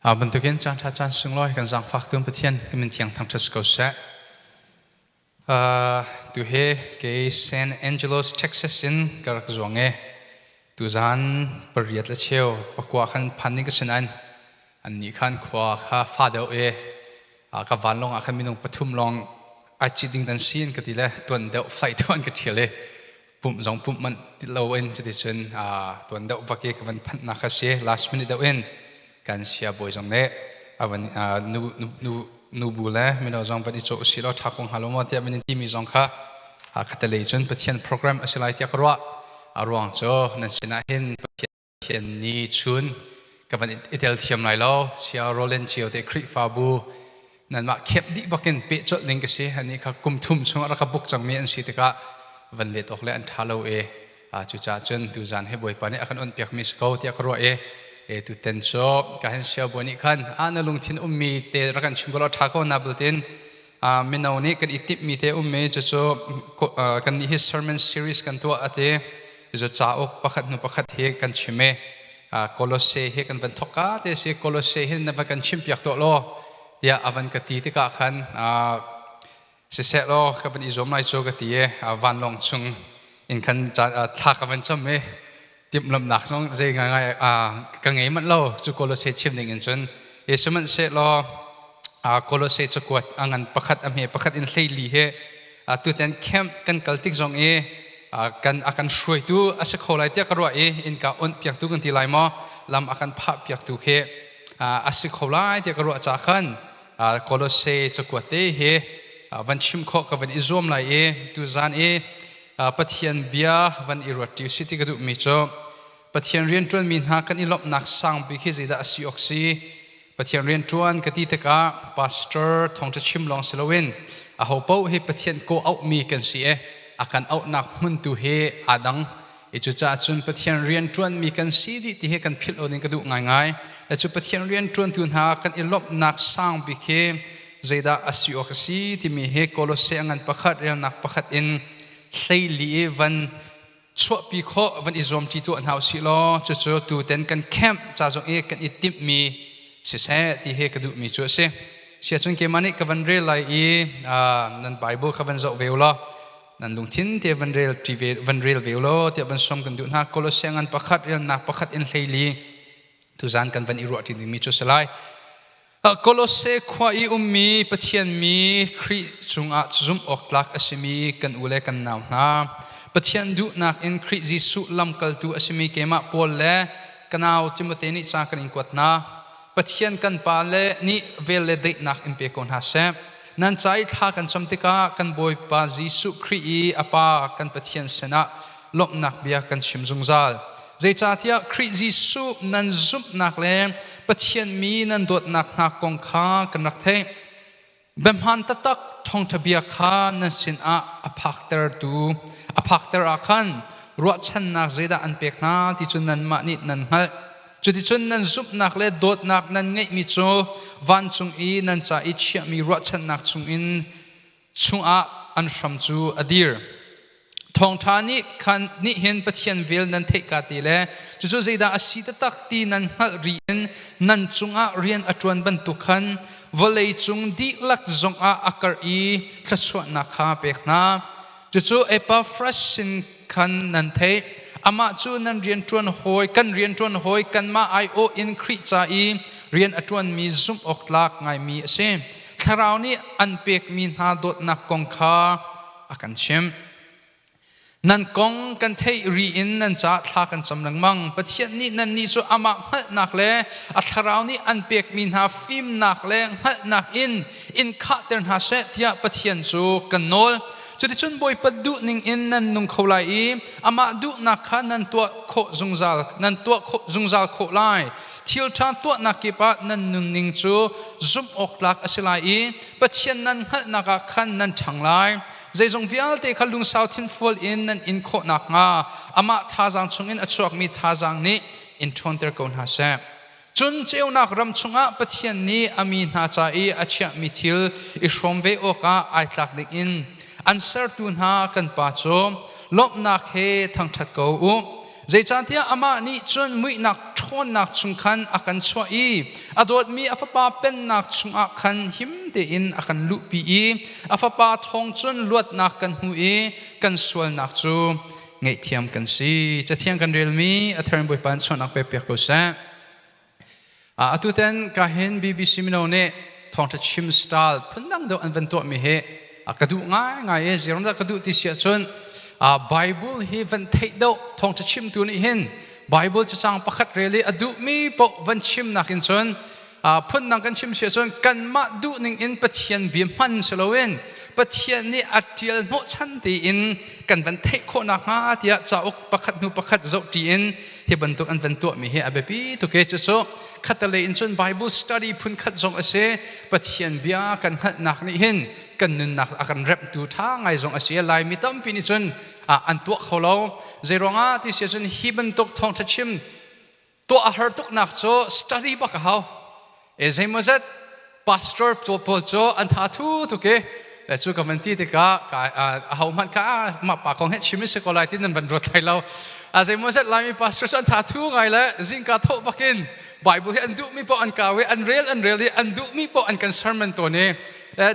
Bantukin caan ṭha caan sunglawi kan zaangfak tu Pathian kan min thiang thangṭhat si ko seh. Tu he kei St. Angelos, Texas in ka rak zuang e. Tu zan pariat le cheu pakua khan phan ning ka sinain Annih khan khua kha fa deuh i ka vanlawng ah khan minung pathum lawng ai cit ding dan si an ka ti le tuan deuh flaih tu an ka ṭhial i pumh zong pumh manh ti lo in cuticun tuan deuh vak i ka van phanhnak kha si last minute deuh in kan siabawi zong nih a van nu nu nu bu le mino zong van i cawh si law ṭha ko hnga lo maw tiah min in timi zong kha khatalei cun Pathian program a si lai tiah ka ruah a ruang cu nan sinah hin Pathian Ken ni chun ka van i tel thiam lai lo sia Roland cio te Khrihfabu nanmah khep dih bakin pe colh ning ka si ani kha kum thum chung ah rak ka book cangmi an si tikah van let awk le an ṭha lo e cucaah cun tu zan he Bawipa nih a kan on piakmi si ko tiah ka ruah e e tuten cu ka han sia buan nih khan a na lungthin ummi te rak kan chim ko law ṭha ko na bultin mino nih kan i timhmi te um i cucu kannih hi sermon series kan tuah a ti cu cauk pakhat hnu pakhat hi kan chim i Kolose hi kan van thokka te si Kolose hi na va kan chimpiak tuah law tiah a van ka ti tikah khan siseh law ka van i zuam lai cu ka ti i vanlawng chung in khan thla ka van cam i timhlamhnak zong zei ngaingai ka ngei manh lo cu kolose chim ding in cun yesu man se law kolose cakuat a ngan pakhat a hme pakhat in hleili he tutan camp kan kal tik zong i kan a kan hruaitu a si kho lai tiah ka ruah i innka on piak tu kan ti lai maw lam a kan phah piak tu khi a si kho lai tiah ka ruah ca khan kolose cakuat te hi van chim khawh ka van i zuam lai i tu zan i Pathian bia van i ruat ti si ti ka duhmi cu Pathian rianṭuanmi hna kan i lawmhnak sang bik hi zeidah a si awk si? Pathian rianṭuan ka ti tikah pastor thawngṭa chim lawng si loin aho paoh hi Pathian kaw auhmi kan si i a kan auhnak hmun tu hi aa dang. I cucaah cun Pathian rianṭuanmi kan si dih ti hi kan philh awning ka duh ngaingai. Cu Pathian rianṭuantu hna kan i lawmhnak sang bik hi zeidah a si awk a si timi hi Kolosse a ngan pakhat relnak pakhat in hleili i van chuahpi khawh van i zuamṭi tuah hna u sih law cucu tutan kan camp ca zong i kan i timhmi siseh ti hi ka duhmi cu a si siacun keimah nih ka van rel lai i nan Bible kha van zoh ve u law nan lungthin te van rel ṭi ve van rel ve u law tiah van sawm kan duh hna Kolosse ngan pakhat relnak pakhat in hleili tuzan kan van i ruah ṭi dingmi cu a si lai Kolose khua i ummi Pathian mi Khrih cungah zumh awk tlak a simi kan u le kan nau hna, Pathian duhnak in Khrih Jesuh lamkaltu a simi keimah Paul le ka nau Timote nih ca kan in kuat hna. Pathian kan Pa le nih vel le daihnak in pe ko hna seh. Nan ca i thla kan cam tikah kan Bawipa Jesuh Khrih i a Pa kan Pathian sinah lawmhnak bia kan chim zungzal. Zeicahtiah Khrih Jesuh nan zumhnak le Pathian mi nan dawtnak hna kong kha kan rak theih. Biahmaan taktak thawngṭha bia kha nan sinah a phaktertu a phakter ah khan ruahchannak zeidah an pek hna ti cu nanmah nih nan hngalh. Cuticun nan zumhnak le dawtnak nan ngeihmi cu vancung i nan ca i chiahmi ruahchannak chungin chungah an hram cu a dir. Thawngṭha nih khan nih hin Pathian vel nan theihka te le cucu zeidah a si taktak ti nan hngalh rih in nan cungah rian a ṭuan bantuk khan vawlei cung dihlak zongah a karh i thluachuahnak kha pek hna. Cucu Epaphras sin khan nan theih, amah cu nan rianṭuan hawi, kan rianṭuan hawi, kanmah aiawh in Khrih ca i rian a ṭuanmi zumh awk tlak ngaimi a si. Thlarau nih an pekmi hna dawtnak kong kha a kan chimh. Nan kong kan theih ri in nan caah thla kan cam lengmang. Pathian nih nannih cu amah hngalhnak le a thlarau nih an pekmi hna fimnak le hngalhnak in in khahter hna seh tiah Pathian cu kan nawl. Cuticun Bawipa duh ningin nan nung kho lai i amah duhnak kha nan tuah khawh zungzal, nan tuah khawh zungzal khawh lai. Thilṭha tuahnak kip ah nan nunning cu zumh awk tlak a si lai i Pathian nan hngalhnak ah khan nan ṭhang lai. Zeizong vialte kha lungsau thinfual in nan in khawh nakhnga amah thazaang chungin a chuakmi thazaang nih in ṭhawnter ko hna seh. Cun ceunak ram chungah Pathian nih a mi hna ca i a chiahmi thil i hrawm ve awkah ai tlak dingin an sertu hna kan Pa cu lawmhnak he thangṭhat ko u. Zeicahtiah amah nih cun muihnak ṭhawnnak chung khan a kan chuah i a dawtmi a Fapa Pennak chungah khan him tein a kan luhpi i a Fapa thawng cun luatnak kan hmu i kan sualnak cu ngaihthiam kan si. Cathiang kan relmi a thar in Bawipa in sualnak pekpiak ko seh. Uh, atu ten ka hin BBC mino nih thawngtha chim style phundang deuh an van tuahmi hi uh, ka duh ngaingai e ziaram dah ka duh ti si ahcun uh, Bible hi van theih deuh thawngtha chimtu nih hin Bible cacang pakhat rel i a duhmi poh van chimnak in cun phundang kan chim si ahcun kanmah duhning in Pathian bia hman si loin Pathian nih a ṭial hnawhchan tein kan van theih khawh nakhnga tiah cauk pakhat hnu pakhat zohṭi in hi bantuk an van tuahmi hi a biapi tuk e cu cu khatalei in cun Bible study phunkhat zong a si Pathian bia kan hngalhnak nih hin kan nunnak a kan remhtu ṭha ngai zong a si Laimi tampi nih cun an tuah kho lo zeiruangah ti si ahcun hi bantuk thawngṭha chim Tuah a har tuknak cu study bak a hau. E zeimawzat pastor pawl cu an tha thu tuk i cu ka van ti tikah a ho hmanh ka mah pa kong he chim si ko lai ti nan van ruat lai lo a zeimawzat laimi pastor cu an tha thu ngai le zingka thawh bakin Bible hi an duhmi poh an kau i an rel an rel i an duhmi poh an kan sermon to ni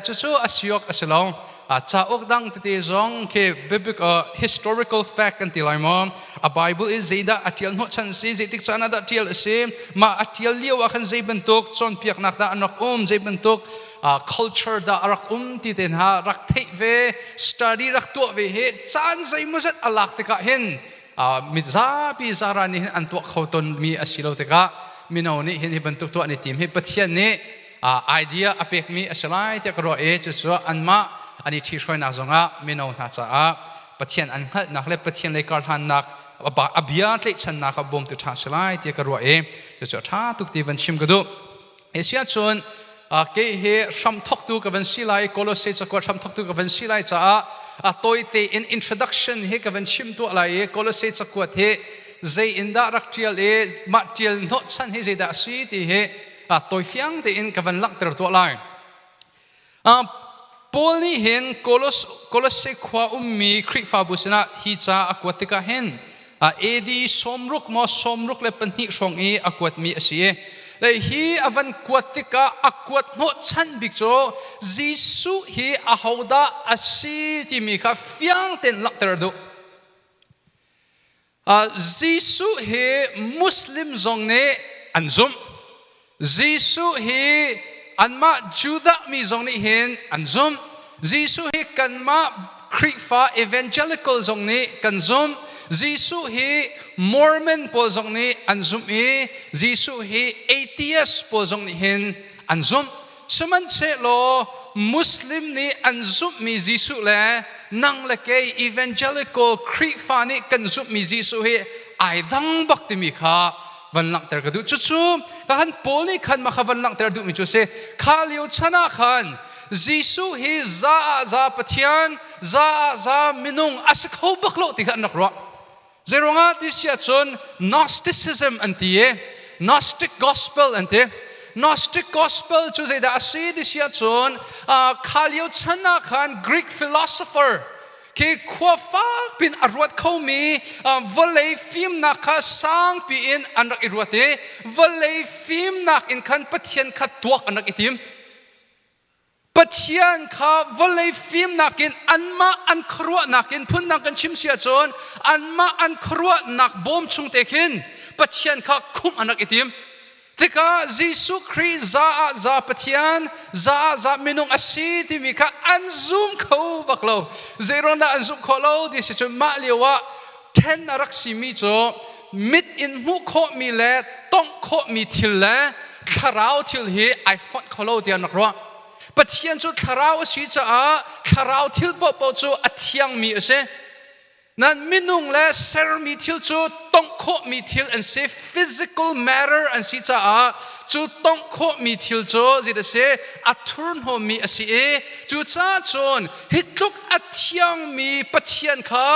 cucu a si awk a si lo. cauk dang tete zong khi biabik historical fact kan ti lai maw a bible i zeidah a tial hnawh chan si zeitik caan ah dah tial a si mah a tial lio ah khan zei bantuk cawnpiaknak dah a rak um zei bantuk culture dah a rak um ti te hna rak theih ve study rak tuah ve he caan zeimawzat a lak tikah hin mi zapi zara nih hin an tuah kho ton mi a si lo tikah mino nih hin hi bantuk tuah ni tim hi pathian nih idea a pekmi a si lai tiah ka ruah i cucu anmah an i ṭhihruainak zongah mino hna caah Pathian an hngalhnak le Pathian lei karhlannak a bia tlaihchannak a bawmtu ṭha si lai tiah ka ruah i cucu a ṭha tuk ti van chim ka duh. Asia cun kei hi hramthoktu ka van si lai Colossae cakuat hramthoktu ka van si lai caah a tawite in introduction hi ka van chim tuah lai i Colossae cakuat hi zei in dah rak ṭial i mah ṭial hnawhchan hi zeidah a si ti hi Faak tawi fiang tein ka van langhter tuah lai. Uh, Paul nih hin Kolos, Kolosse khua ummi Khrihfabu sinah hi ca a kuat tikah hin AD sawmruk maw sawmruk le pahnih hrawng i a kuatmi a si i le hi a van kuat tikah a kuat hnawhchan bik cu Jesuh hi ahodah a si timi kha fiang tein langhter a duh. Jesuh hi Muslim zong nih an zumh. Jesuh hi anmah Judah mi zong nih hin an zumh. Jesuh hi kanmah Khrihfa evangelical zong nih kan zumh. Jesuh hi Mormon pawl zong nih an zumh i Jesuh hi atheist pawl zong nih hin an zumh. Sihmanhsehlaw Muslim nih an zumhmi Jesuh le nang le kei evangelical Khrihfa nih kan zumhmi Jesuh hi ai dang bak timi kha van langhter ka duh. Cucu ka han Paul nih khan mah kha van langhter duhmi cu a si. Kha lio chan ah khan Jesuh hi za ah za Pathian, za ah za minung a si kho bak lo ti kha an rak ruah. Zeiruangah ti si ahcun Gnosticism an ti i Gnostic gospel an ti. Gnostic gospel cu zeidah a si ti si ahcun kha lio chan ah khan Greek philosopher khi khua fak piin a ruat khomi vawlei fimnak kha sangpi in an rak i ruat i vawlei fimnak in khan Pathian kha tuak an rak i tim. Pathian kha vawlei fimnak in anmah an khuaruahnak in phundang kan chim si ahcun anmah an khuaruahnak bawm chung te khin Pathian kha khumh an rak i tim. Tikah Jesuh Khrih za ah za Pathian, za ah za minung a si timi kha an zum kho bak lo. Zeiruang dah an zumh khawh lo ti si cun mah lio ah Ṭhen a rak simi cu mit in hmuh khawhmi le tongh khawhmi thil le thlarau thil hi ai fonh kho lo tiah an rak ruah. Pathian cu thlarau a si caah thlarau thil paohpaoh cu a thiangmi a si. Nan minung le sermi thil cu tongh khawhmi thil an si. Physical matter an si caah cu tongh khawhmi thil cu zit a si, a thurhnawmmi a si i cucaah cun hi tluk a thiangmi Pathian kha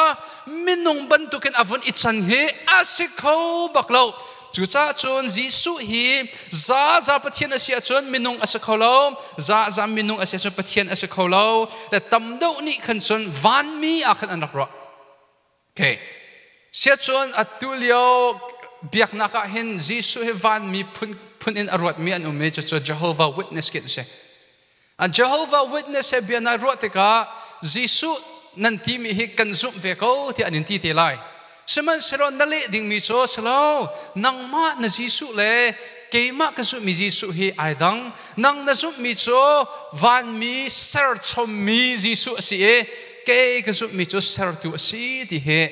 minung bantukin a vun i can hi a si kho bak lo. Cucaah cun Jesuh hi za za Pathian a si ahcun minung a si kho lo, za za minung a si ahcun Pathian a si kho lo. Le tam deuh nih khan cun vanmi ah khan an rak ruah. Okay. Siacun atu lio biaknak ah hin Jesuh hi vanmi phun, phun in a ruatmi an um i cucu Jehovah Witness khi an si. An Jehovah Witness he bia nai ruah tikah Jesuh nan timi hi kan zumh ve ko tiah an in ti te lai. Sihmanhsehlaw na leh dingmi cu a si lo, nangmah na Jesuh le keimah ka zumhmi Jesuh hi ai dang. Nang na zumhmi cu vanmi serchommi Jesuh a si i kei ka zumhmi cu sertu a si ti hi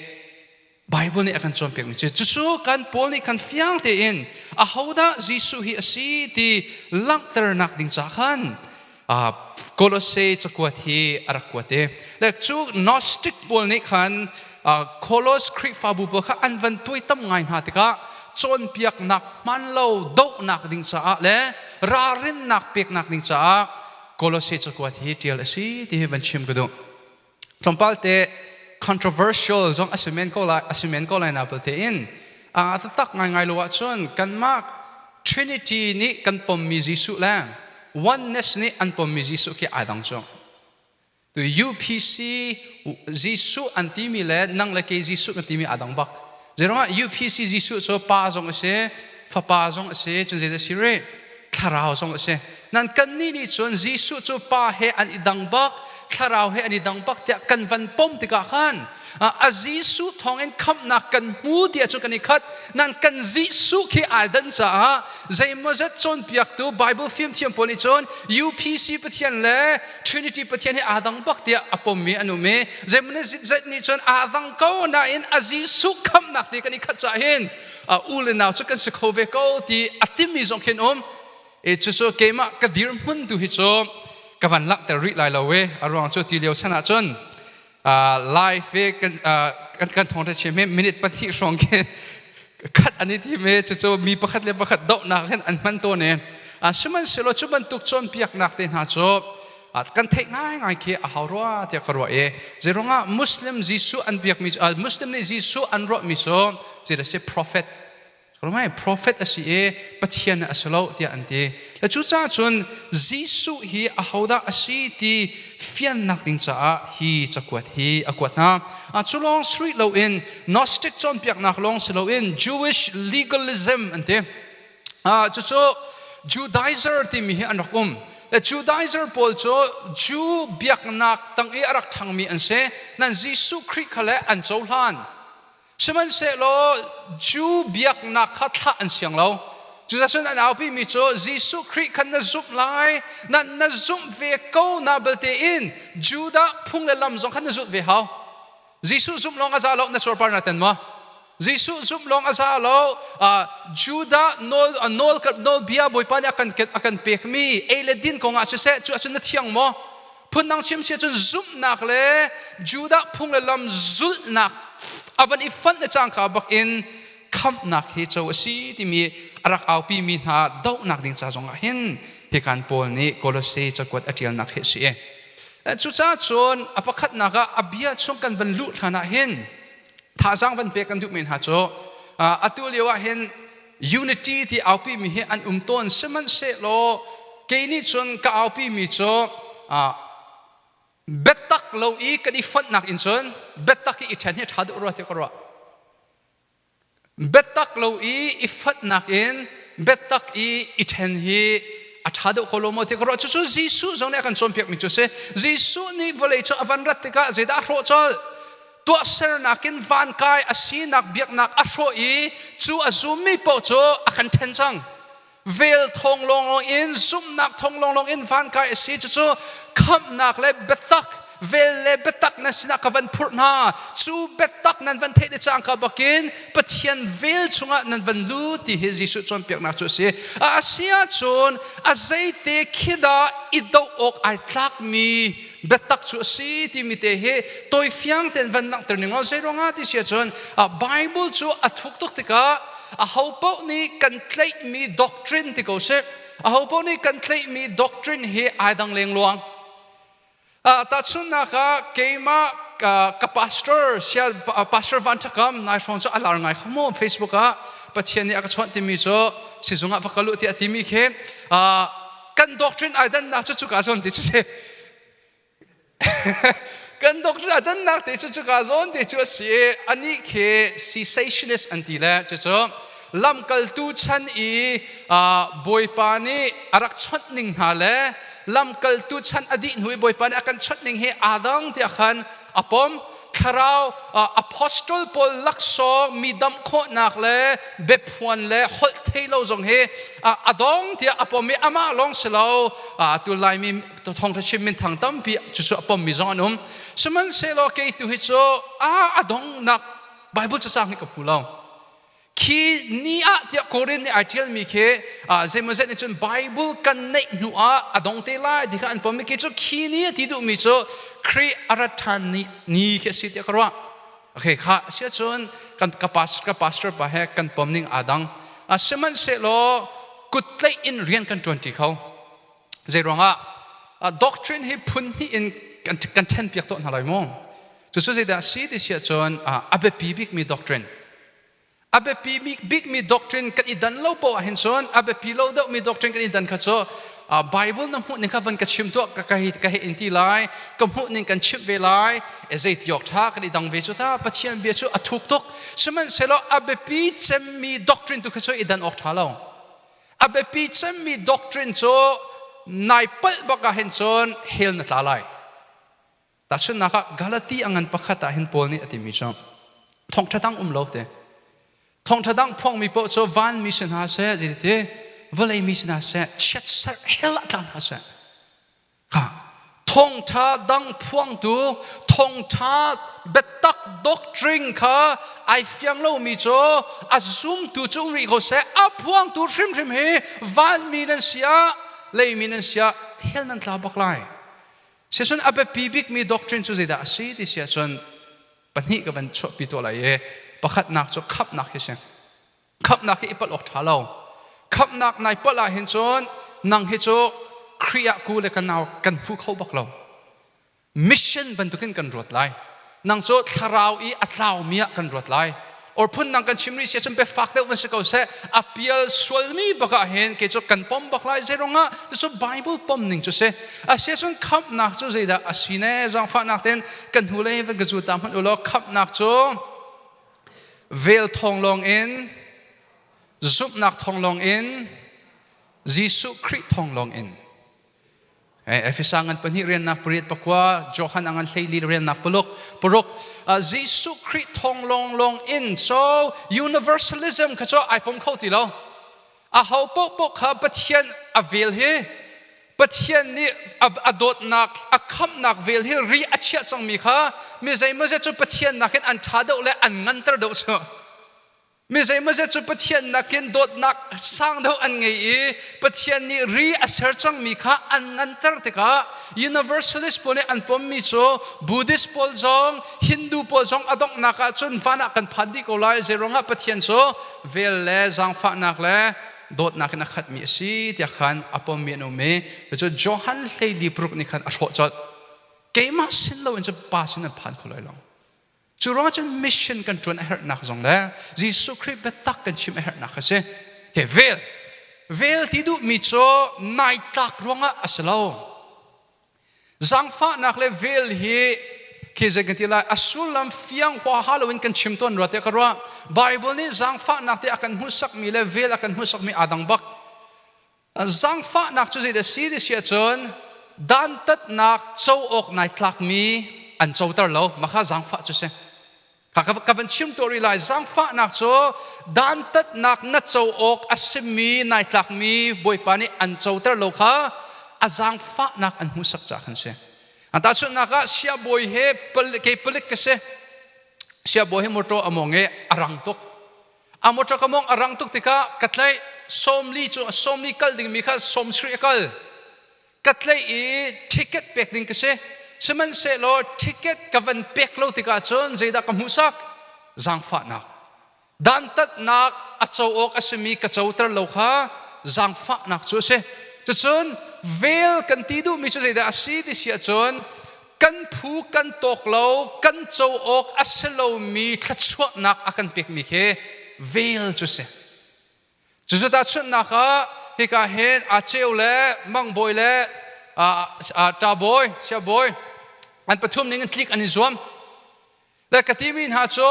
Baibal nih a kan cawnpiakmi cu cucu kan Paul nih khan fiang tein ahodah Jesuh hi a si ti langhternak ding ca khan Kolosse cakuat hi a rak kuat i le cu Gnostic pawl nih khan Koloss Khrihfabu pawl kha an van tuaitam ngai hna tikah cawnpiaknak hman lo dohnak ding caah le ralrinnak peknak ding caah Kolosse cakuat hi ṭial a si ti hi van chim ka duh. tlawmpal te controversial zong a si men ko lai a si men ko lai na belte in a taktak ngaingai lo ahcun kanmah trinity nih kan pommi Jesuh le oneness nih an pommi Jesuh khi ai dang cu tu UPC Jesuh an timi le nang le kei Jesuh na timi aa dang bak Zeiruangah UPC Jesuh cu pa zong a si, fapa zong a si, cun zeidah a si rih? Thlarau zong a si. Nan kannih nih cun Jesuh cu pa he an i dang bak, thlarau he an i dang bak tiah kan van pom tikah khan a Jesuh thawngin khamhnak kan hmu tiah cu kan i khat. Nan kan Jesuh khi aa dan caah zeimaw zet cawnpiaktu Baibal fimthiam pawl nih cun UPC Pathian le Trinity Pathian hi aa dang bak tiah a pommi an um i zeimawzet nih cun aa dang ko nain a Jesuh khamhnak te kan i khat caah hin u le nau cu kan si kho ve ko ti a timmi zong khin um e cucu keimah ka dirhmun tu hi cu ka van langhter rih lai lo i a ruang cu ti lio chan ah cun life kan kan thawng ṭha me minute pahnih hrawng ke khat an i thi me cucu mi pakhat le pakhat dohnak hin an hman tawn i sihmanhsehlaw cu bantuk cawnpiaknak te hna cu kan theih ngaingai khi a hau rua tiah ka ruah i zeirongah muslim jesuh an biakmi muslim nih jesuh an ruahmi cu ci da si prophet Ramain profet a si i Pathian a si lo tiah an ti. Le cucaah cun Jesuh hi ahodah a si ti fiannak ding caah hi cakuat hi a kuat hna. Cu lawng si rih loin Gnostic cawnpiaknak lawng si loin Jewish legalism an ti. Cucu Judaizer timi hi an rak um. Le Judaizer pawl cu Jew biaknak tang i a rak ṭhangmi an si. Nan Jesuh Khrih kha le an cohlan. Sihmanhsehlaw Jew biaknak kha thlah an siang lo. Cuticun an aupimi cu Jesuh Khrih kha na zumh lai, nan na zumh ve ko na belte in Judah phung le lam zong kha na zulh ve hau. Jesuh zumh lawng a za lo, na surpar na ten maw? Jesuh zumh lawng a za lo. Judah nawlbia Bawipa nih a kan pekmi ei le din kongah siseh, cu ahcun na thiang maw? Phundang chim si ahcun zumhnak le Judah phung le lam zulhnak a van i fonh le cangka bak in khamhnak hi co a si timi a rak aupi mi hna dohnak ding ca zong ah hin hi kan Paul nih Kolose cakuat a ṭialnak hi a si. Cucaah cun a pakhatnak ah a bia chung kan van luh hlan ah hin thazaang van pek kan duh men hna cu atu lio ah hin Unity ti aupimi hi an um tawn sihmanhsehlaw kei nih cun ka aupimi cu biatak lo i kan i fonhnak in cun biatak i i ṭhen hi ṭha deuh rua tiah ka ruah. Biatak lo i i fonhnak in biatak i i ṭhen hi a ṭha deuh ko lo maw tiah ka ruah. Cucu Jesuh zong nih a kan cawnpiakmi cu a si. Jesuh nih vawlei cu a van rat tikah zeidah a hrawh colh? tuahsernak in van kai a sinak biaknak a hrawh i cu a zummi paoh cu a kan ṭhen cang vel thong lawnglawng in zumhnak thong lawnglawng in van kai a si cucu khamhnak le biatak vel le biatak nan sinah ka van phurh hna cu biatak nan van theih le cangka bakin pathian vel chungah nan van lu ti hi Jesuh cawnpiaknak cu a si a asiahcun a zeite khi dah i doh awk ai tlakmi biatak cu a si timi te hi tawifiang tein van langhter ning law zeiruangah ti si ahcun Bible cu a thuk tuk tikah aho paoh nih kan tlaihmi doctrine ti ko sih aho paoh nih kan tlaihmi doctrine hi ai dang lengluang tahchunhnak ah keimah ka pastor sial pastor van thakam nai hrawng cu a lar ngai kho mu facebook ah pathian nih a ka chawnh timi cu sizung ah va ka luh tiah timi khi kan doctrine ai dannak cu cuka zawn ti cu si kan doctrine a dannak te cu cuka zawn te cu a si anih khi cessationist an ti le cucu lamkaltu chan i bawipa nih a rak chawnh ning hna le lamkaltu chan a dih hnu i bawipa nih a kan chawnh ning hi adang tiah khan a pom thlarau apostle paul laksawng mi damh khawhnak le biaphuan le holh thei lo zong hi a dong tiah a pom i amah lawng si lo tunlai mi thongthachim min thang tampi cucu a pom mi zong an um sihmanhsehlaw kei tu hi cu a a dongnak bible cacang hi ka pu lo khi ni ah tiah Korin nih ai ṭialmi khi zeimawzet nih cun Bible kan neih hnu ah a dong te lai ti kha an pom i khi cu khi ni a ti duhmi cu Kri a ra ṭhan ni, ni khi a si tiah ka ruah. Okay, kha a si ahcun kan ka pastor, ka pastor pa he kan pom ning aa dang. A sihmanhsehlaw kuttleih in rian kan ṭuanṭi kho. Zeiruangah doctrine hi phun hnih in kan ṭhen piak tuah hna lai mu. Cucu zeidah a si ti si ahcun a biapi bikmi doctrine. A biapi bikmi doctrine kan i dan lo paoh ahhin cun a biapi lo deuhmi doctrine kan i dan kha cu Baibal na hmuhning kha van ka chim tuah ka hei in ti lai ka hmuhning kan chimh ve lai zeiti awk ṭha kan i dang ve cu ta Pathian bia cu a thuk tuk sihmanhsehlaw a biapi cemmi doctrine tu kha cu i dan awk ṭha lo a biapi cemmi doctrine cu nai palh bak ahhin cun hell na tla lai Tahchunhnak ah, Galati a ngan pakhat ah hin Paul nih a timi cu thawngṭha dang um lo te. Thawngṭha dang phuangmi paoh cu vanmi si hna seh, zeiti vawlei mi si hna seh, chiatserh hell ah tlang hna seh. Ka thawngṭha dang phuangtu, thawngṭha biatak doctrine kha ai fiang lomi cu a zumtu cung rih ko seh, a phuangtu hrimhrim hi vanmi nan si ah, leimi nan si ah hell nan tla bak lai. Sihcun a biapi bikmi doctrine cu zeidah a si ti si ahcun pahnih ka van chuahpi tuah lai i pakhatnak cu khamhnak hi a si. Khamhnak hi i palh awk ṭha lo. Khamhnak nai palh ahhin cun nang hi cu Khrih ah ku le ka nau kan hmu kho bak lo. Mission bantukin kan ruat lai. nang cu thlarau i a tlaumi ah kan ruat lai or phun nang kan chim rih si cun be fak deuh kan si ko seh a pial sualmi bakah hin kei cu kan pom bak lai zeirong ah cucu bible pom ning cu si a si cun khamhnak cu zeidah a si ne zangfahnak ten kan hnu lei van ka zu ta hmanh ulaw khamhnak cu vel thong lawng in zumhnak thong lawng in Jesuh Khrih thong lawng in Efesa ngan pahnih riannak pariat pakua, Johan a ngan hleili riannak paluk, paruk. Jesuh Khrih thawng lawnglawng in, so universalism kha cu ai pom kho ti lo. A ho paohpaoh kha Pathian a vel hi, Pathian nih a dawtnak, a khamhnak vel hi ri a chiah cangmi kha, mi zeimaw zet cu Pathian nakin an ṭha deuh le an nganter deuh cu. Mi zeimawzet cu Pathian nakin dawtnak sang deuh an ngei i Pathian nih ri a ser cangmi kha an nganter tikah Universalist pawl nih an pommi cu Buddhist pawl zong Hindu pawl zong a donghnak ahcun van ah kan phan dih ko lai zeiruangah Pathian cu vel le zaangfahnak le dawtnak in a khatmi a si tiah khan a pommi an um i cucu Johan hleili paruk nih khan a hrawh colh keimah sin loin cu pa sin an phan kho lai lo Cu ruang ahcun mission kan ṭuan a herhnak zong le Jesuh Khrih biatak kan chim a herhnak a si. Hi vel, vel ti duhmi cu naitlak ruangah a si lo. Zangfahnak le vel hi khi zei kan ti lai, a sullam fiang huaha loin kan chim tawn rua tiah ka ruah. Baibal nih zangfahnak ti a kan hmuhsakmi le vel a kan hmuhsakmi aa dang bak. Zangfahnak cu zeidah a si ti si ahcun dantatnak co awk nai tlakmi an coter lo. Mah zangfah cu si. Kha ka van chim tuah rih lai. Zangfahnak cu dantatnak na co awk a simi nai tlakmi Bawipa nih an coter lo kha a zangfahnak an hmuhsak caah kan si. Tahchunhnak ah, siabawi he palik, ke palik ka si. Siabawi he mawṭaw a mawng i a rang tuk. a motor ka mong a rang tuk tikah ka tlaih sawmli cu sawmli kal dingmi kha sawmsarih a kal ka tlaih i ticket pek ding ka si sihmanhsehlaw ticket ka van pek lo tikah cun zeidah ka hmuhsak zaangfahnak dantatnak a co awk a simi ka coter lo kha zaangfahnak cu a si cucun vel kan ti duhmi cu zeidah a si ti si ahcun kan phu kan tawk lo kan co awk a si lomi thluachuahnak a kan pekmi hi vel cu si cucu tahchunhnak ah hika hin a ceu le mangbawi le ṭabawi siabawi an pathum ning in tlik an i zuam Le ka timi hna cu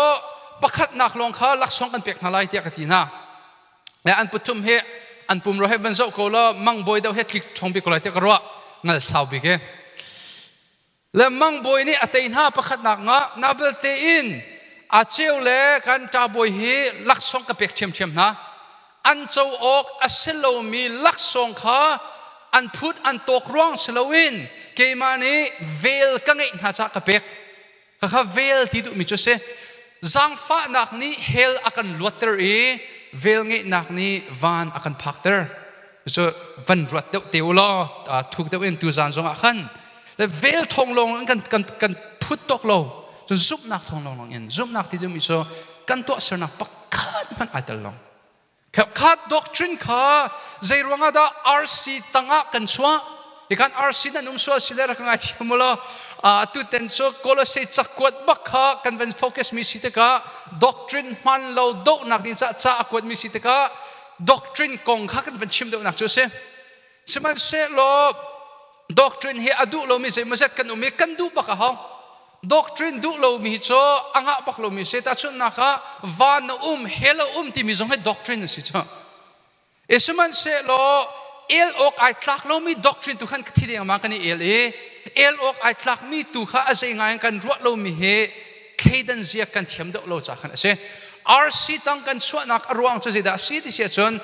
pakhatnak lawng kha laksawng kan pek hna lai tiah ka ti hna. Le an puthum hi an pumro he van zoh ko law mang bawi deuh he tlik chong bik ko lai tiah ka ruah ngal sau bik e le mang bawi nih a tei hna pakhatnak nga na belte in a ceu le kan ta bawi hi laksawng ka pek ṭhiamṭhiam hna an co awk a si lomi laksawng kha an phut an tawk ruang si loin keimah nih vel ka ngeih hna cah ka pek Khakha vel ti duhmi cu si. Zangfahnak nih hell a kan luatter i velngeihnak nih van a kan phakter. Cu van ruat deuh te u law thuk deuh in tuzan zongah khan le vel thong lawng in kan kan kan phut tok lo cun zumhnak thong lawng in zumhnak ti duhmi cu kan tuahsernak pakhat hmanh ai tel lo Khat doctrine kha zei ruangah dah RC tangah kan chuah? Ikan RC nan um sual si le rak ngai thiam mu lo. Uh, tuten cu Colosai cakuat bak kha kan van focus mi si tikah doctrine hman lo dohnak ni ca ca a kuat mi si tikah doctrine kong kha kan van chim deuhnak cu a si. Sihmanhsehlaw doctrine hi a duh lomi zeimawzat kan um i kan duh bak a hong. Doctrine duh lomi cu a ngah bak lomi si. Tahchunhnak ah, van a um, hell a um timi zong hi doctrine a si cu. E sihmanhsehlaw el awk ai tlak lomi doctrine tu khan ka thi dengmang kan i el i el awk ai tlakmi tu kha a zei ngai in kan ruah lomi hi thleidan ziak kan thiam deuh lo ca khan a si RC tang kan chuahnak a ruang cu zeidah a si ti si ahcun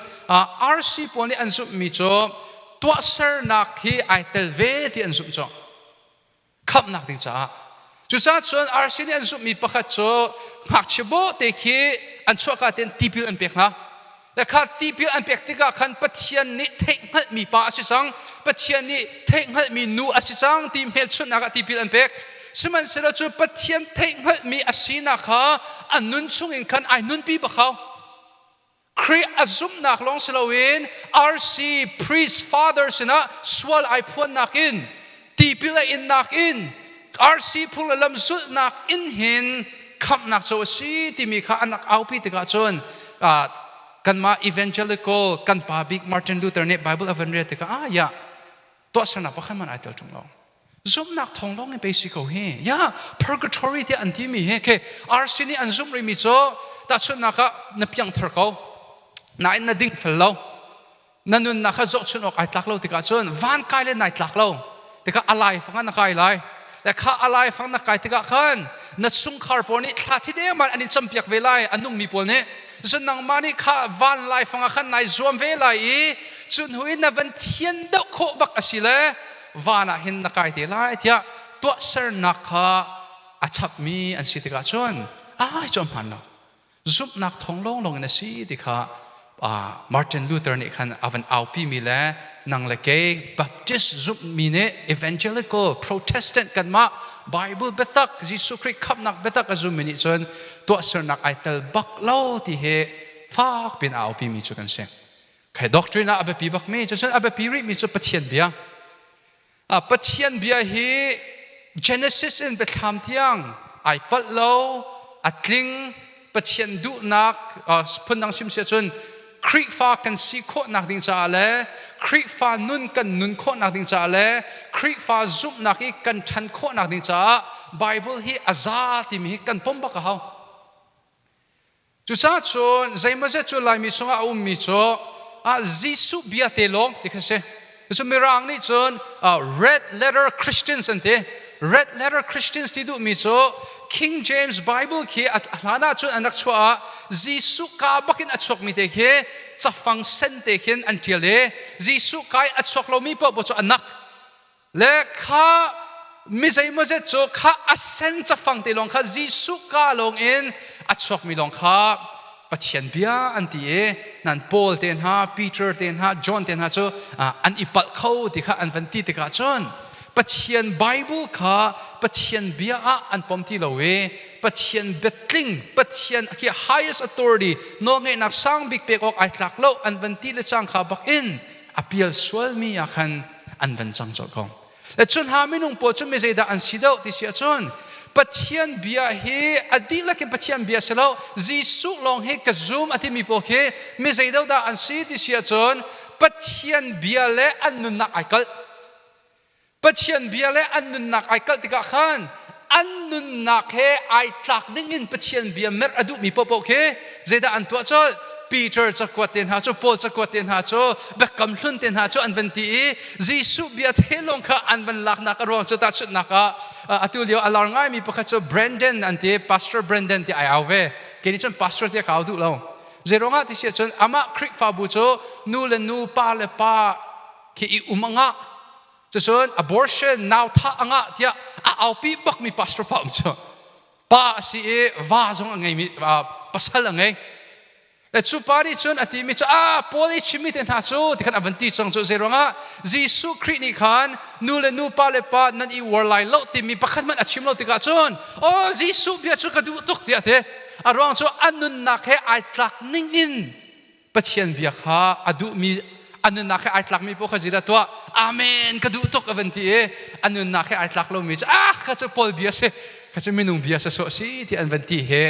RC pawl nih an zumhmi cu tuahsernak hi ai tel ve ti an zumh cawk khamhnak ding caah cucaah cun RC nih an zumhmi pakhat cu ngakchia bawte khi an chuahka tein tipil an pek hna Le kha tipil an pek tikah khan Pathian nih theihhngalhmi pa a si cang. Pathian nih theihhngalhmi nu a si cang ti hmelchunhnak ah tipil an pek. Sihmanhsehlaw cu Pathian theihhngalhmi a sinak kha a nun chungin khan ai nunpi bak hau. Khrih a zumhnak lawng si loin RC priest father sinah sual ai phuannak in tipil a innak in arsi phul lam sulhnak in hin khamhnak co a si timi kha an rak aupi tikah cun kanmah evangelical kan pa bik Martin Luther nih Bible a van rial tikah ah ya tuahsernak pakhat man ai tel ṭung lo zumnak thong lawng in pei si ko hi ya purgatory tiah an timi hi khi arsi nih an zumh rimi cu tahchunhnak ah na piangthar ko nain na ding fel lo na nunnak kha zohchunh awk ai tlak lo tikah cun van kai le nai tlak lo tikah a lai fang na kai lai le kha a lai fang na kai tikah khan na chungkhar pawl nih thla thi deng an in campiak ve lai a nungmi pawl nih cun nangmah nih kha van lai fangah khan nai zuam ve lai i cu hnu in na van thian doh khawh bak a si le van ah hin na kai te lai tiah tuahsernak kha a chapmi an si tikah cun ai cawm hman lo zumhnak thawng lawnglawng in a si ti kha Martin Luther nih khan a van aupimi le nang le kei Baptist zumhmi nih evangelical, Protestant kanmah Bible biatak, Jesuh Khrih khamhnak biatak a zummi nih cun tuahsernak ai tel bak lo ti hi fak piin a aupimi cu kan si. Khai doctrine ah a biapi bakmi, cucun a biapi rihmi cu Pathian bia, Pathian bia hi Genesis in biathlam tiang ai palh lo a tling Pathian duhnak phundang sim si cun Khrihfa kan si khawhnak ding caah le Khrihfa nun kan nun khawhnak ding caah le Khrihfa zumhnak i kan ṭhan khawhnak ding caah Bible hi a za timi hi kan pom bak a hau. Cucaah cun zeimawzet cu Laimi chungah a ummi cu ah Jesuh bia te lawng ti kha si. Cucu Mirang nih cun red letter Christians an ti. Red letter Christians ti duhmi cu King James Bible khi a hlan ah cun an rak chuah ah Jesuh kaa bak in a chuakmi te khi cafang sen te khin an ṭial i Jesuh kai a chuak lomi paohpaoh cu a nak. le kha mi zeimawzet cu kha a sen cafang te lawng kha Jesuh ka lawng in a chuakmi lawng kha Pathian bia an ti i nan Paul te hna Peter te hna John te hna cu an i palh kho ti kha an van ti tikah cun Pathian Bible kha Pathian bia ah an pom ti lo i Pathian biatling Pathian hi highest authority nawlngeihnak sang bik pek awk ai tlak lo an van ti le cang kha bak in a pial sualmi ah khan an van cang colh ko. Le cun ha minung pawl cu mi zeidah an si deuh ti si ahcun Pathian bia hi a dihlak in Pathian bia si lo Jesuh lawng hi ka zum a timi pawl khi mi zeidodah an si ti si ahcun Pathian bia le an nunnak ai kalh. Pathian bia le an nunnak ai kalh tikah khan an nunnak he ai tlak dingin Pathian bia merh a duhmi paohpaoh khi zeidah an tuah colh? Peter cakuat te hna cu Paul cakuat te hna cu Biakam Hlun te hna cu an van ti i Jesuh bia te lawng kha an van laknak a ruang cu tahchunhnak ah atu lio a lar ngaimi pakhat cu Brandon an ti Pastor Brandon ti ai au ve kei nih cun pastor tiah ka au duh lo zeiruangah ti si ahcun amah Khrihfabu cu nu le nu pa le pa khi i um a ngah. Cucun abortion nauthah a ngah tiah a aupi bakmi pastor pa um cu pa a si i va zong a ngeimi pasal a ngei. Cu pa nih cun a timi cu a Paul i chimmi te hna cu ti khan a van ti cang cu zei ruangah Jesuh Khrih nih khan nu le nupa le pa nan i uar lai lo timi pakhat hmanh a chim lo tikah cun oh Jesuh bia cu ka duh tuk tiah a ti a ruang cu a nunnak he ai tlak ning in Pathian bia kha a duhmi a nunnak he ai tlakmi paoh kha zeidah tuah amen ka duh tuk a van ti i a nunnak he ai tlak lomi cu ah kha cu Paul bia si kha cu minung bia sa sawh si ti an van ti he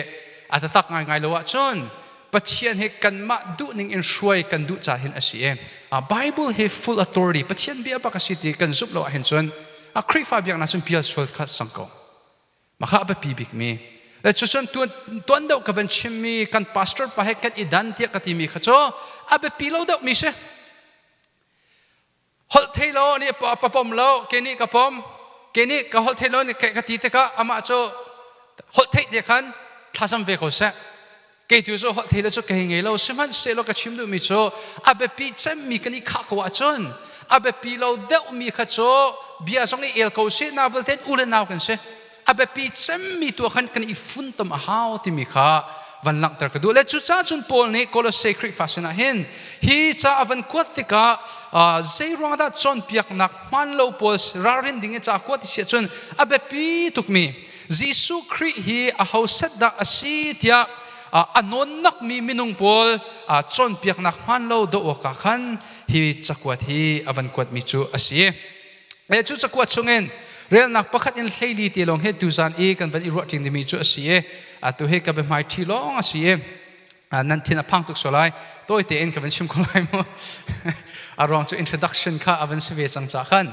a tatak ngaingai lo ahcun Pathian he kanmah duhning in hruai kan duh ca hin a si i Bible he full authority Pathian bia bak a si ti kan zumh lo ahhin cun a Khrihfa biaknak cun pial sual kha sang ko Maka a biapi bikmi. Le cucun tuan, tuan deuh ka van chimmi kan pastor pa he kan i dan tiah ka timi kha cu a biapi lo deuhmi si. Holh thei lo nih pa pom lo, ke nih ka pom, ke nih ka holh thei lo nih ka ti tikah amah cu holh theih dia khan thlazam ve ko seh. kei tu cu holh theile cu ka hei ngei lo sihmanhsehlaw ka chim duhmi cu a biapi cemmi kan i khah ko ahcun a biapi lo deuhmi kha cu bia zong i el ko si nau vialte u le nau kan si a biapi cemmi tu khan kan i funtom a hau timi kha van langhter ka duh le cucaah cun Paul nih Colossae Khrihfa sinah hin hi ca a van kuat tikah zei ruang dah cawnpiaknak hmaan lo pawl ralrin ding i ca kuat si ahcun a biapi tukmi Jesuh Khrih hi aho set dah a si tiah a nawnakmi minung pawl cawnpiaknak hmaan lo doh awkah khan hi cakuat hi a van kuatmi cu a si. Cu cakuat chungin relnak pakhat in hleili te lawng he tuzan i kan van i ruah ṭing dimi cu a si i atu hi ka biahmai ṭhi lawng a si i nan thin a phang tuk sual lai tawite in ka van chim ko lai mu a ruang cu introduction kha a van si ve cang cah khan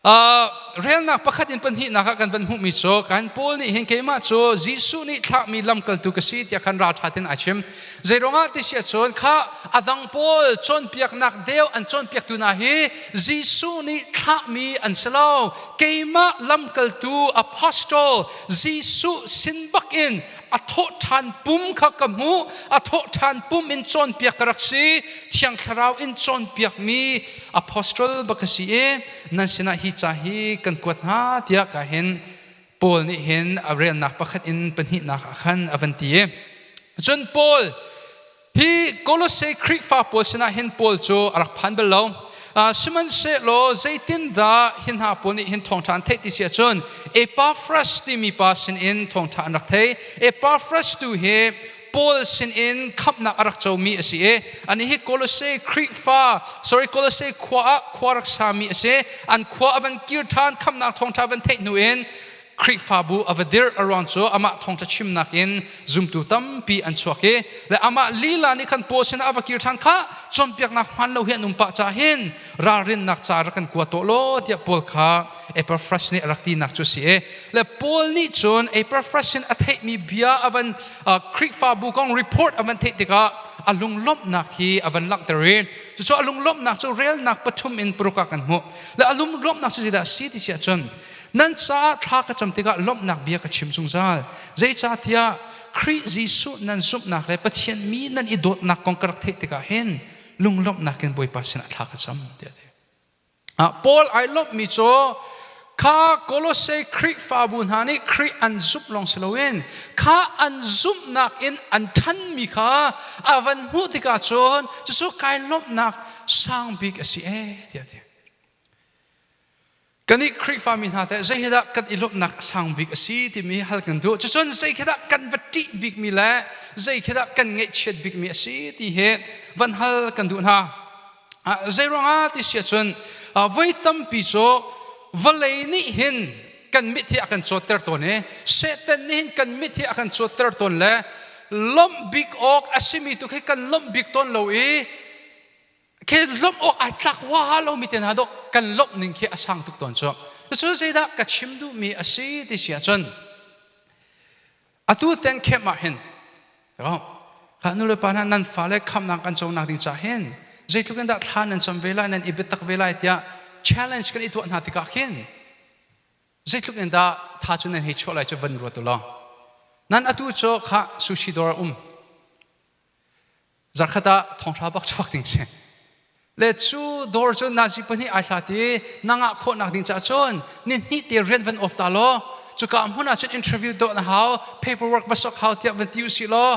Uh, relnak pakhat in pahnihnak ah kan van hmuhmi cu kan Paul nih hin keimah cu Jesuh nih thlahmi lamkaltu ka si tiah khan ralṭhat in ai chim. Zei ruangah ti si ahcun kha a dang pawl cawnpiaknak deu an cawnpiaktu hna hi Jesuh nih thlahmi an si lo. Keimah lamkaltu apostle Jesuh sin bakin a thawhṭhan pum kha ka hmuh, a thawhṭhan pum in cawnpiak ka rak si. Thiang Thlarau in cawnpiakmi Apostle baka si i nan sinah hi ca hi kan kuat hna tiah ka hin Paul nih hin a relnak pakhat in pahnihnak ah khan a van ti i cun Paul hi Kolosse Khrihfa pawl sinah hin Paul cu a rak phan bal lo sihmanhsehlaw zeitindah hi hna pawl nih hin thawngṭha an theih ti si ahcun Epaphras timi pa sinin thawngṭha an rak thei Epaphras tu hi Paul sinin khamhnak a rak comi a si i anih hi Kolose Khrihfa, sorry, Kolose khua ah khua rak sami a si. An khua a van kir ṭhan, khamhnak thawngṭha van theih hnu in Khrihfabu a va dirh. A ruang cu amah thawngṭha chimnak in zumtu tampi an chuak i le amah lila nih khan Paul sinah a va kir ṭhan kha cawnpiaknak hmaan lo hi an um pah caah hin ralrinnak ca rak kan kuat tuah law tiah Paul kha Epaphras nih a rak tinak cu a si i le Paul nih cun Epaphras in a theihmi bia a van Khrihfabu kong report a van theih tikah a lunglawmhnak hi a van langhter i cucu a lunglawmhnak cu relnak pathum in paruk ah kan hmuh le a lunglawmhnak cu zeidah a si ti si ahcun nan caah thla ka cam tikah lawmhnak bia ka chim zungzal zeicah tiah Khrih Jesuh nan zumhnak le Pathian mi nan i dawtnak kong ka rak theih tikah hin lunglawmhnak in Bawipa sinah thla ka cam tiah a ti. Ah Paul ai lawmhmi cu kha Kolosse Khrihfabu hna nih Khrih an zumh lawng si loin kha an zumhnak in an ṭhanmi kha a van hmuh tikah cun cucu kai lawmhnak sang bik a si ee tiah ti. Kan i Khrihfami hna teh zei hidah kan i lawmhnak a sang bik a si timi hal kan duh. Cucun zei khi dah kan va ṭih bikmi le zei khi dah kan ngaihchiat bikmi a si ti hi van hal kan duh hna. Zeiruangah ti si ahcun voi tampi cu vawlei nih hin kan mithi a kan cawtter tawn i Satan nih hin kan mithi a kan cawtter tawn le lawmh bik awk a simi tu khi kan lawmh bik tawn lo i khi lawmh awk ai tlak huaha lomi te hna dawh kan lawmh ning khi a sang tuk tawn cu cucu zeidah ka chim duhmi a si ti si ahcun Atu teng khem ah hin kha nulepa hna nan fale khamnak kan cawknak ding cah hin zeitluk in dah thla nan cam ve lai nan i biatak ve lai tiah challenge kan i tuah hna tikah hin zeitluk in dah tha cu nan hei chuah lai cu van ruat u law nan atu cu kha sushi dawr um Zarkhat ah thonghra bak chuak ding si. Le cu dawr cu nazi pahnih ai hlat i na ngah khawhnak ding caah cun ni hnih te rian van off ta law cuka hmun ah cun interview dawh na hau paperwork va sok hau tiah van ti u si law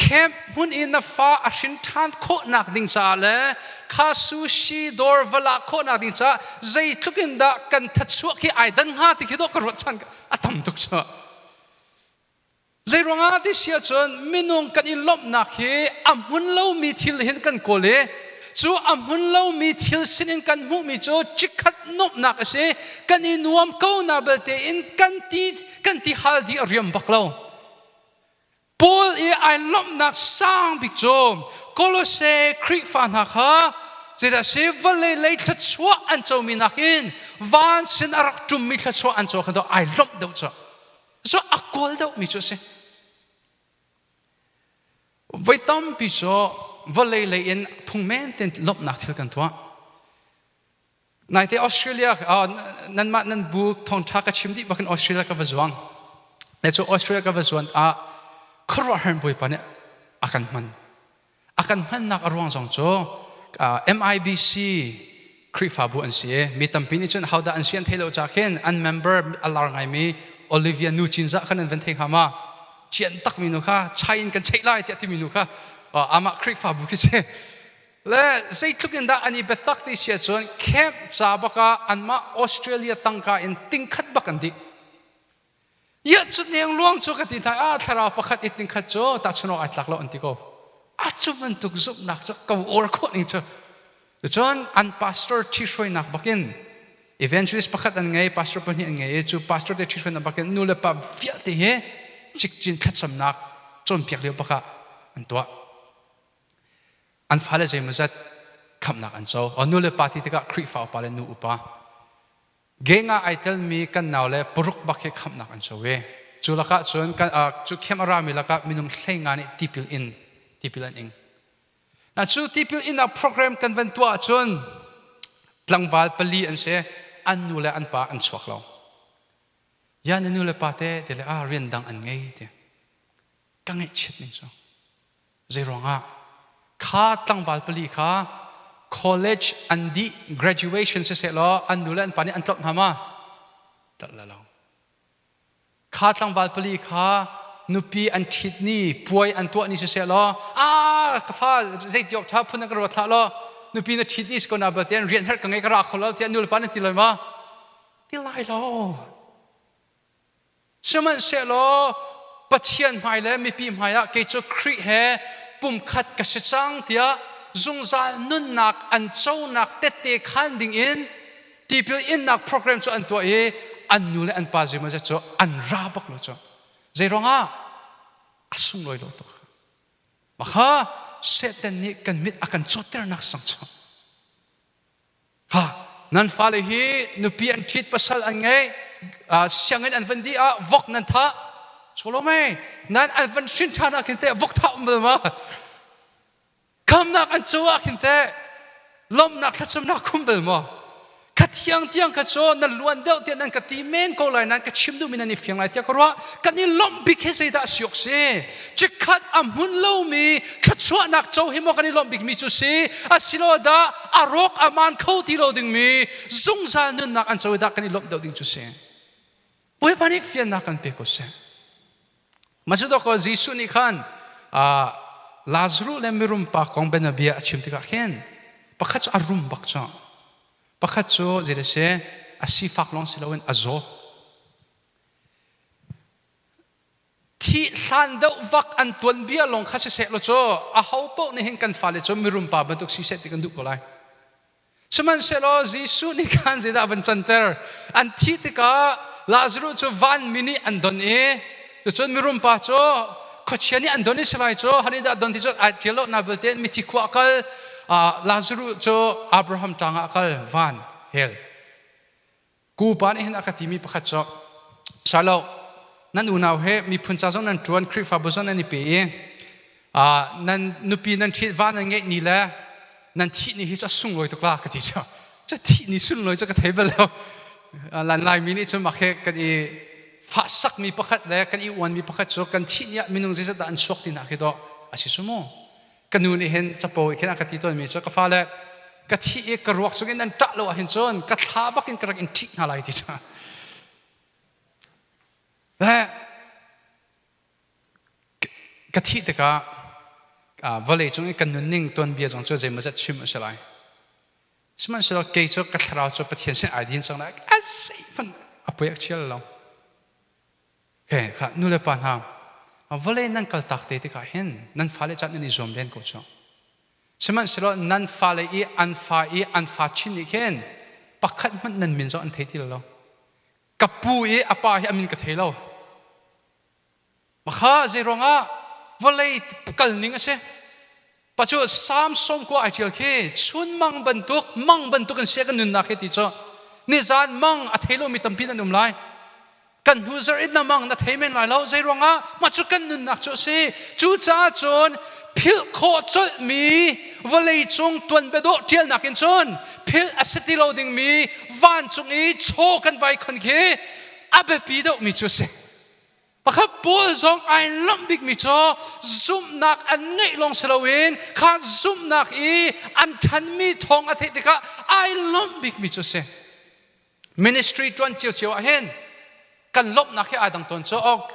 camp hmun i na fa a hrin ṭhan khawhnak ding caah le kha sushi dawr va la khawhnak ding caah zeitluk in dah kan thatchuah khi ai dan hnga ti khi dawh ka ruat chan a tam tuk cu Zeiruangah ti si ahcun minung kan i lawmhnak hi a hmun lomi thil hin kan kawl i cu a hmun lomi thil sinin kan hmuhmi cu chikkhat nuamhnak a si kan i nuam ko na belte in kan ti kan ti hal di a riam bak lo Paul i ai lawmhnak sang bik cu Kolose Khrihfa hna kha zeidah si vallei lei thluachuah an comi nakin van sin a rak ṭummi thluachuah an co kha ai lawmh deuh cu Cu a kawl deuhmi cu a si. Voi tampi cu vawlei lei in phung men tein lawmhnak thil kan tuah. Naite Australia, uh, nanmah nan bu thawngṭha ka chim dih bakin Australia ka va zuang. Ne cu Australia ka va zuan ah khuaruahhar bawipa nih a kan hman. A kan hmannak a ruang zong cu MIBC Khrihfabu an si i mi tampi nih cun hodah an si an theih lo ca khin an member a lar ngaimi Olivia Nu Cinzah kha nan van thei hnga ma? Cian takmi nu kha chai in kan cheih lai tiah timi nu kha amah Khrihfabu khi si. Le zeitluk in dah an i biatak ti si cun camp ca bak ah anmah Australia tangka in tingkhat bak an dih. Ia cu neng luang cu ka ti ta a thlarau pakhat it ning khat cu tachunok ai tlak lo an ti ko. A cu bantuk zumhnak cu ka or khawh ning cu. Cun an pastor thi hruainak bakin evangelist pakhat an ngei pastor pahnih an ngei i cu pastor te thi hruainak bakin nu le pa vialte he cikcin thlacamnak cawnpiak lio bakah an tuah. An fale zeimawzat khamnak an co. O nu le pa ti tikah Khrihfa upa le nu upa Geng ah ai telmi kan naule paruk bak hi khamhnak an co ve. Cu lakah cun kan, uh, cu camp a rami lakah minung hleinga nih tipil in tipil an ing. Na cu tipil innak program kan van tuah ahcun tlangval pali an si. An nu le an pa an chuak lo. Ya na nu le pa te te le ah rian dang an ngei te. Ka ngeih chit ning cu. Zeiruangah? Kha tlangval pali kha college an dih, graduation sisehlaw an nu le an pa nih an tlawlh hna ma? Tlawlh la lo. Kha tlangval pali kha nupi an ṭhit ni, puai an tuah ni sisehlaw, aa ka fa zeiti awk ṭha phun na ka ruat hlah law nupi na ṭhit ni si ko nabalte tein rian her ka ngei ka ra kho lo tiah nulepa nan ti lai ma? Ti lai lo. Sihmanhsehlaw Pathian hmai le mipi hmaiah kei cu Khrih he pumkhat ka si cang tiah zungzal nunnak an conak tette khaan dingin tipil innak program cu an tuah i an nu le an pa zeimawzet cu an ra bak lo cu. Zei ruangah? A sunglawi lo tuk. Maka Satan nih kan mit a kan cawtternak sang cu ha nan fale hi nupi an ṭhit pasal an ngei sianginn an van dih ah vok nan thah Solome nan an van hrin ṭhan ah khin teh vok thah um ma khamnak an cu ah khin teh lawmhnak thlacamnak khum bel maw ka thiang tiang ka cu na luan deuh tiah nan ka ti men ko lai nan ka chim duhmi nan i fiang lai tiah ka ruah kan i lawmh bik hi zeidah siok si cikhat a hmun lomi thluachuahnak co hi maw kan i lawmh bikmi cu si asilo dah a rawk a man kho ti lo dingmi zungzal nunnak an co dah kan i lawmh deuh ding cu si. Bawipa nih fiannak kan pek ko seh. Masidoko Jesuh nih khan Lazarus le mirum pa kong bianabia a chim tikah khin pakhat cu a rum bak cu. Pakhat cu zei le si a sifak lawng si loin a zaw. thih hlan deuh vak an tuanbia lawng kha siseh law cu aho paoh nih hin kan fale cu mirum pa bantuk si seh ti kan duh ko lai sihmanhsehlaw Jesuh nih khan zeidah a van canter an thih tikah Lazarus cu vanmi nih an don i cucun mirum pa cu khuachia nih an don i silai cu hani dah don ti cun ai ṭial lonak belte mithi khua a kal Lazarus cu Abraham ṭangah a kal van hell Kupa nih hin a ka timi pakhat cu, Shalo, nan unau he miphun ca zong nan ṭuan, Khrihfabu zong nan i pe i nan nupi nan ṭhitva nan ngeih ni le nan thih ni hi cu a sunglawi tuk la ka ti cu. Cu thih ni sunlawi cu ka thei bal lo. Lan Laimi nih cun mah khi kan i fahsakmi pakhat le kan i uanmi pakhat cu kan thih ni ah minung zeizat dah an chuak tinak hi dawh a si cu mu. ka nu nih hin capo i khin a ka ti tawnmi cu ka fale ka thih i ka ruak chung in an ṭah lo ahhin cun ka thla bak in ka rak in ṭhih hna lai ti cu le ka thih tikah vawlei cung i ka nunning tuanbia zong cu zeimawzat chim a si lai sihmanhsehlaw kei cu ka thlarau cu pathian sin ai din cang lai a zeihmanh a poiak ṭhial lo Okay, ka nulepa hna, vawlei nan kaltak te tikah hin nan fale can nan i zuam len ko cu. Sihmanhsehlaw nan fale i an fa i an fa chin nih khin pakhat hmanh nan min zong an thei ti lo. Ka pu i a pa hi a min ka thei lo. Mah kha zei ruangah vawlei kal ning a si. Pacu Samson kua ai ṭial khi chunmang bantuk mang bantuk in sia kan nunnak hi ti cu nizan mang a thei lomi tampi nan um lai kan hnu zarh in na mang na thei men lai lo zei ruangah mah cu kan nunnak cu a si cucaah cun philh khawh colhmi vawleicung tuanbiadawh ṭialnak in cun philh a si ti lo dingmi vancung i chaw kan vai khon khi a biapi deuhmi cu a si Pakhat pawl zong ai lamh bikmi cu zumhnak an ngeih lawng si loin kha zumhnak i an ṭhanmi thawng a theih tikah ai lawmh bikmi cu si. Ministry ṭuan cio ah hin kan lawmhnak hi aa dang tawn cu ok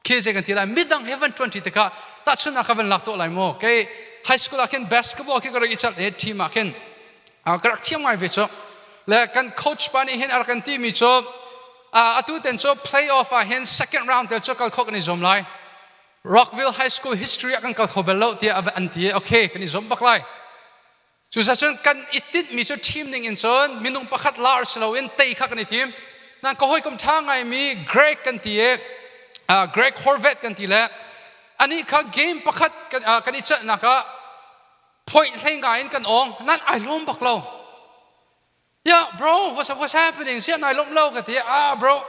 khi zei kan ti lai midang he van ṭuanṭi tikah tahchunhnak ka van lak tuah lai maw kei high school ah khin basketball khi ka rak i celh i team ah khin ka rak thiam ngai ve cu le kan coach pa nih hin a rak kan timi cu atu ten cu playoff ah hin second round tel cu kal khawh kan i zuam lai Rockville High School history ah kan kal kho bel lo tiah an ti okay kan i zuam bak lai cuzacun kan i tinhmi cu team ning in cun minung pakhat lar si loin tei kha kan i tim nan ka hawikom ṭha ngaimi Greg kan ti i Greg Horvath kan ti le anih kha game pakhat kan i celhnak ah phoih hlei ngai in kan awng nan ai lawm bak lo Yeah, bro, what's up, what's happening? Siah nai lomh lo ka ti. Ah, bro,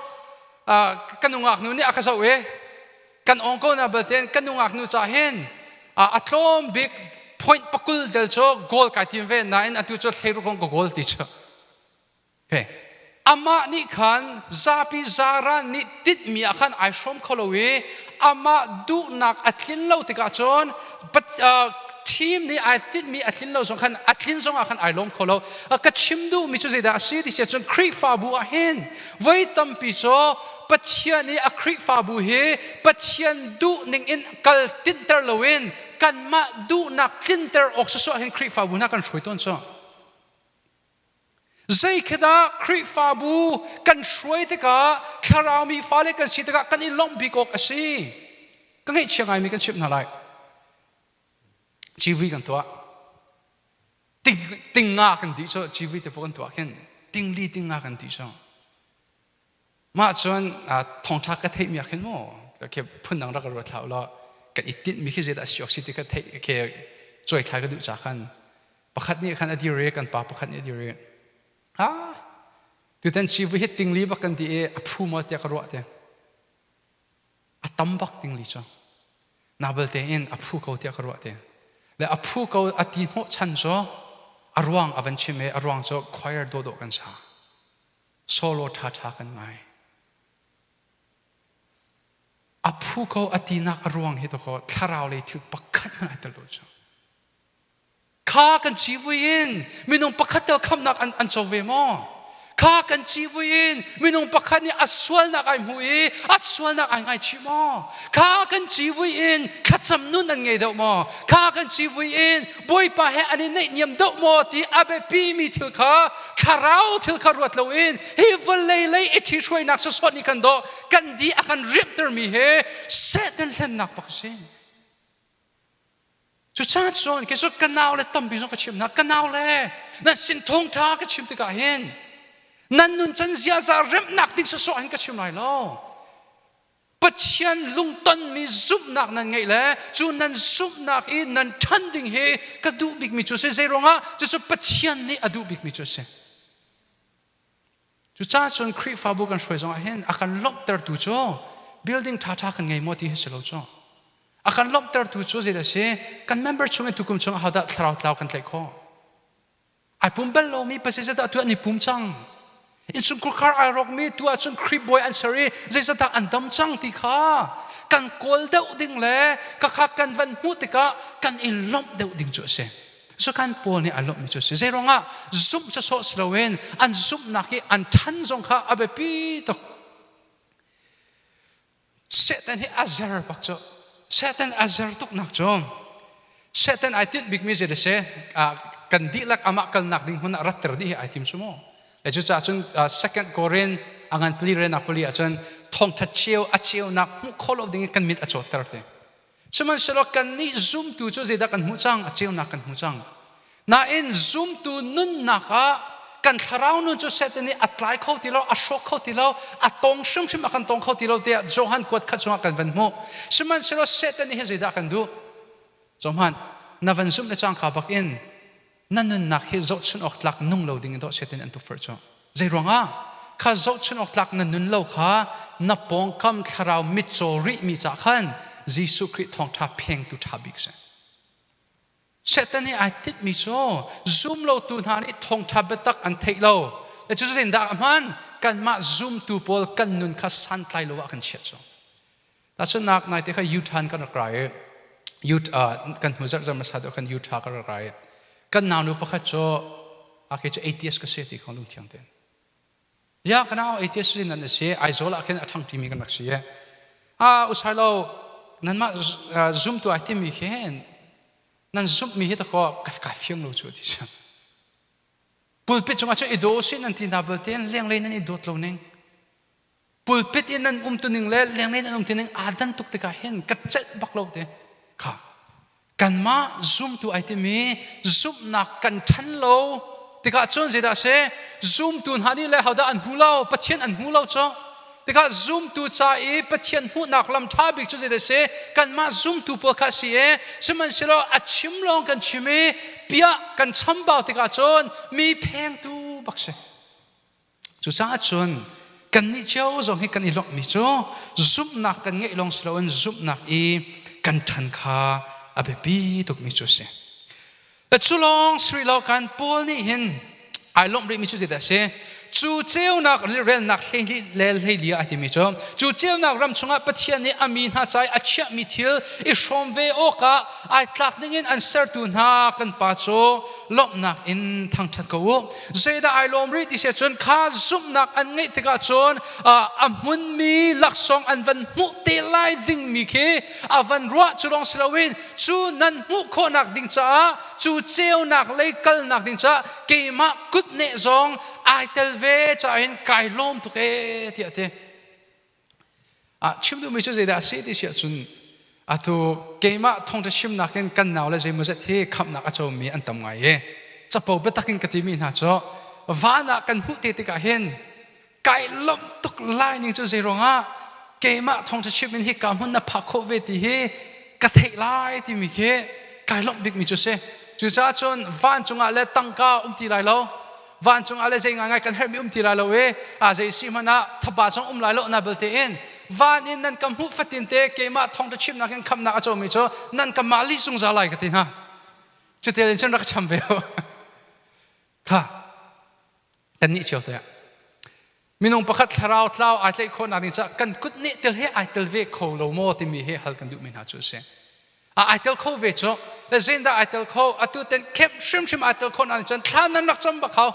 uh, kan nungak nu nih a ka zoh e. Kan ong ko na balten kan nungak nu ca hen a tlawm bik point pakul del cho goal kai tim ve na in atu cho thleiru kong ko goal ti cho. Okay. Amah nih khan zapi zaran nih tit mi ah khan ai hrom kho lo i amah duhnak a tlin lo tikah cun team nih ai tinhmi a tlin lo zong khan a tlin zongah khan ai lawm kho lo ka chim duhmi cu zeidah a si ti siah cun Khrihfabu ah hin voi tampi cu Pathian i a Khrihfabu hi Pathian duhning in kal tinhter loin kanmah duhnak tlinter awk susuah hin Khrihfabu hna kan hruai tawn cu. Zeikhidah Khrihfabu kan hruai tikah thlaraumi fale kan si tikah kan i lawmh bik awk a si? Ka ngaihchia ngaimi kan chimh hna lai. Civi kan tuah. Ting, tinga kan dih cu civi te pawh kan tuah khin. Tingli tinga kan dih cu. mah cun thongṭha ka theihmi ah khin maw ke phundang rak ruat hlah ulaw kan i tinhmi khi zeidah a si awk si ti ka theih ke cuaithlai ka duh ca khan pakhat nih khan a dir i kan pa pakhat nih a dir i a tutan ci vu hi tingli bak kan ti i a phu maw tiah ka ruah te a tam bak tingli cu na belte in a phu ko tiah ka ruah te le a phu ko a ti hnawh chan cu a ruang a van chim i a ruang cu choir dawhdawh kan sa solo ṭhaṭha kan ngai. A phu ko a tinak a ruang hi dakaw thlarau lei thil pakhat in ai tel lo cu. Kha kan ci vui in minung pakhat tel khamnak an, an co ve maw? Kha kan ci vui in minung pakhat nih a sualnak ai hmu i a sualnak ai ngaichih maw? Kha kan ci vui in thlacam nun an ngei deuh maw? Kha kan ci vui in Bawipa he an i naihniam deuh maw ti a biapimi thil kha thlarau thil kha ruat loin hi vawlei lei i ṭhihruainak sawsawt nih kan doh kan di a kan riamhtermi he Satan hlennak bak a si. Cucaah cun kei cu ka nau le tampi zong ka chim hna ka nau le nan sin thawngṭha ka chim tikah hin nan nun can ziaza remnak ding sawsawh hin ka chim lai lo Pathian lungtonmi zumhnak nan ngeih le cu nan zumhnak i nan ṭhan ding hi ka duh bikmi cu a si. Zei ruangah? Cucu Pathian nih a duh bikmi cu a si. Cucaah cun Khrihfabu kan hruai zongah hin a kan lawmhtertu cu building ṭhaṭha kan ngei maw ti hi si lo cu. A kan lawmhtertu cu zeidah a si? Kan member chung in tukum chungah ahodah thlarau tlau kan tlaih khawh? ai pum bal lomi pasal zedah tu an i pum cang insungkhur khar ai rokmi tu ahcun Krip bawi an ser i zeizatah an dam cang ti kha kan kawl deuh ding le ka kha kan van hmuh tikah kan i lomh deuh ding cu a si so kan paul nih a lomhmi cu a si zei ruangah zumh cu sawh si loin an zumhnak i an than zong kha a biapi tuk Satan hi a zer bak cu Satan a zer tuknak cu Satan ai tinh bikmi zei da si kan dihlak amah kalnak ding hmun ah ratter dih hi ai tim cu mu le cucaah cun second korin a ngan pali rena pali ah cun thongtha cio a ceunak hmuh khawh lo ding in kan mit a cawtter te Sihmanhsehlaw kannih zumtu cu zeidah kan hmuh cang? A ceunak kan hmu cang. Nain zumtu nunnak ah kan thlarau nun cu Satan nih a tlai kho ti lo, a hrawk kho ti lo, a tong hrimhrim a kan tong kho ti lo tiah Johan kuat khat chungah kan van hmuh. Sihmanhsehlaw Satan nih hin zeidah a kan duh? Johan, na van zumh le cang kha bakin na nunnak hi zohchunh awk tlak nung lo ding in doh Satan an tukforh cu. Zeiruangah? Kha zohchunh awk tlak na nun lo kha na pawngkam thlarau mitcaw rihmi caah khan Jesuh Khrih thawngṭha phengtu ṭha bik a si. Satan nih ai timhmi cu zumlotu hna nih thawngṭha biatak an theih lo. Cutin dah hmaan kanmah zumtu pawl kan nun kha santlai lo ah kan chiah cu. Tahcun nak naite kha Utah kan rak ra i Utah kan hnu zarh zarh hmasa deuh khan Utah kan rak ra i kan naunu pakhat cu ake cu atheist ka si ti kha lungthiang tein ya kana atheist si nan si Aizawl ah khin a ṭhang ṭimi kan rak si i a usai lo nanmah zumtu ai timi hin nan zumhmi hi tako kai fiang lo cu ti si pulpit cungah cu i daw si nan ti na belte leng lei nan i dawt lo ning pulpit in an umtuning le lenglei in an umtuning aa dan tuk tikah hin ka celh bak lo te kha kanmah zumtu ai timi zumhnak kan ṭhan lo tikah cun zeidah a si zumtu hna nih le hodah an hmu lo pathian an hmu lo cu tikah zumtu ca i pathian hmuhnak lam ṭha bik cu zeidah a si kanmah zumtu pawl kha a si i sihmanhsehlaw a chim lawng kan chim i piah kan chambau tikah cun mi phengtu bak si Cucaah cun kannih cio zong hi kan i lawmhmi cu zumhnak kan ngeih lawng si loin zumhnak i kan ṭhan kha a biapi tukmi cu a si. Cu lawng si rih lo kan Paul nih hin ai lawmh rihmi cu zeidah a si? Cu ceunak relnak le hleiliah a timi cu cu ceunak ram chungah Pathian nih a mi hna ca i a chiahmi thil i hrawm ve awkah ai tlak dingin an sertu hna kan pa cu lawmhnak in thangṭhat ko u zeidah ai lawm rih ti se cun kha zumhnak an ngeih tikah cun a hmunmi laksawng an van hmuh te lai dingmi khi a van ruah cu lawng si loin cu nan hmuh khawhnak ding caah cu ceunak lei kalnak ding caah keimah kut ne zong ai tel ve caah hin kai lawm tuk e tiah ti Ah chim duhmi cu zeidah a si ti si ahcun atu keimah thawngṭha chimnak in kan nau le zeimawzet hi khamhnak a comi an tam ngai i capo biatak in ka timi hna cu van ah kan hmuh te tikah hin kai lomh tuk lai ning cu zei ruangah keimah thawngṭha chim in hi ka hmun na phak khawh ve ti hi ka theih lai timi khi kai lomh bikmi cu si cucaah cun van cungah le tangka um ti lai lo vancung ah le zei ngaingai kan herhmi um ti ra lo e a zei si hmanh ah thapa song um lai lo na belte in van in nan ka hmuh fatin te keimah thong ta chimnak in khamnak a cawmi cu nan ka mah li zungzal lai ka ti hna cutil in cun rak cham ve ho kha kan nih cio te minung pakhat thlarau tlau ai tlaih khawhnak ding caah kan kut neh tel he ai tel ve kho lo maw timi he hal kan duhmi hna cu a si a ai tel kho ve cu zindah ai tel kho atu ten khep hrimhrim ai tel kho na nih cun thlan nan rak cam bak hau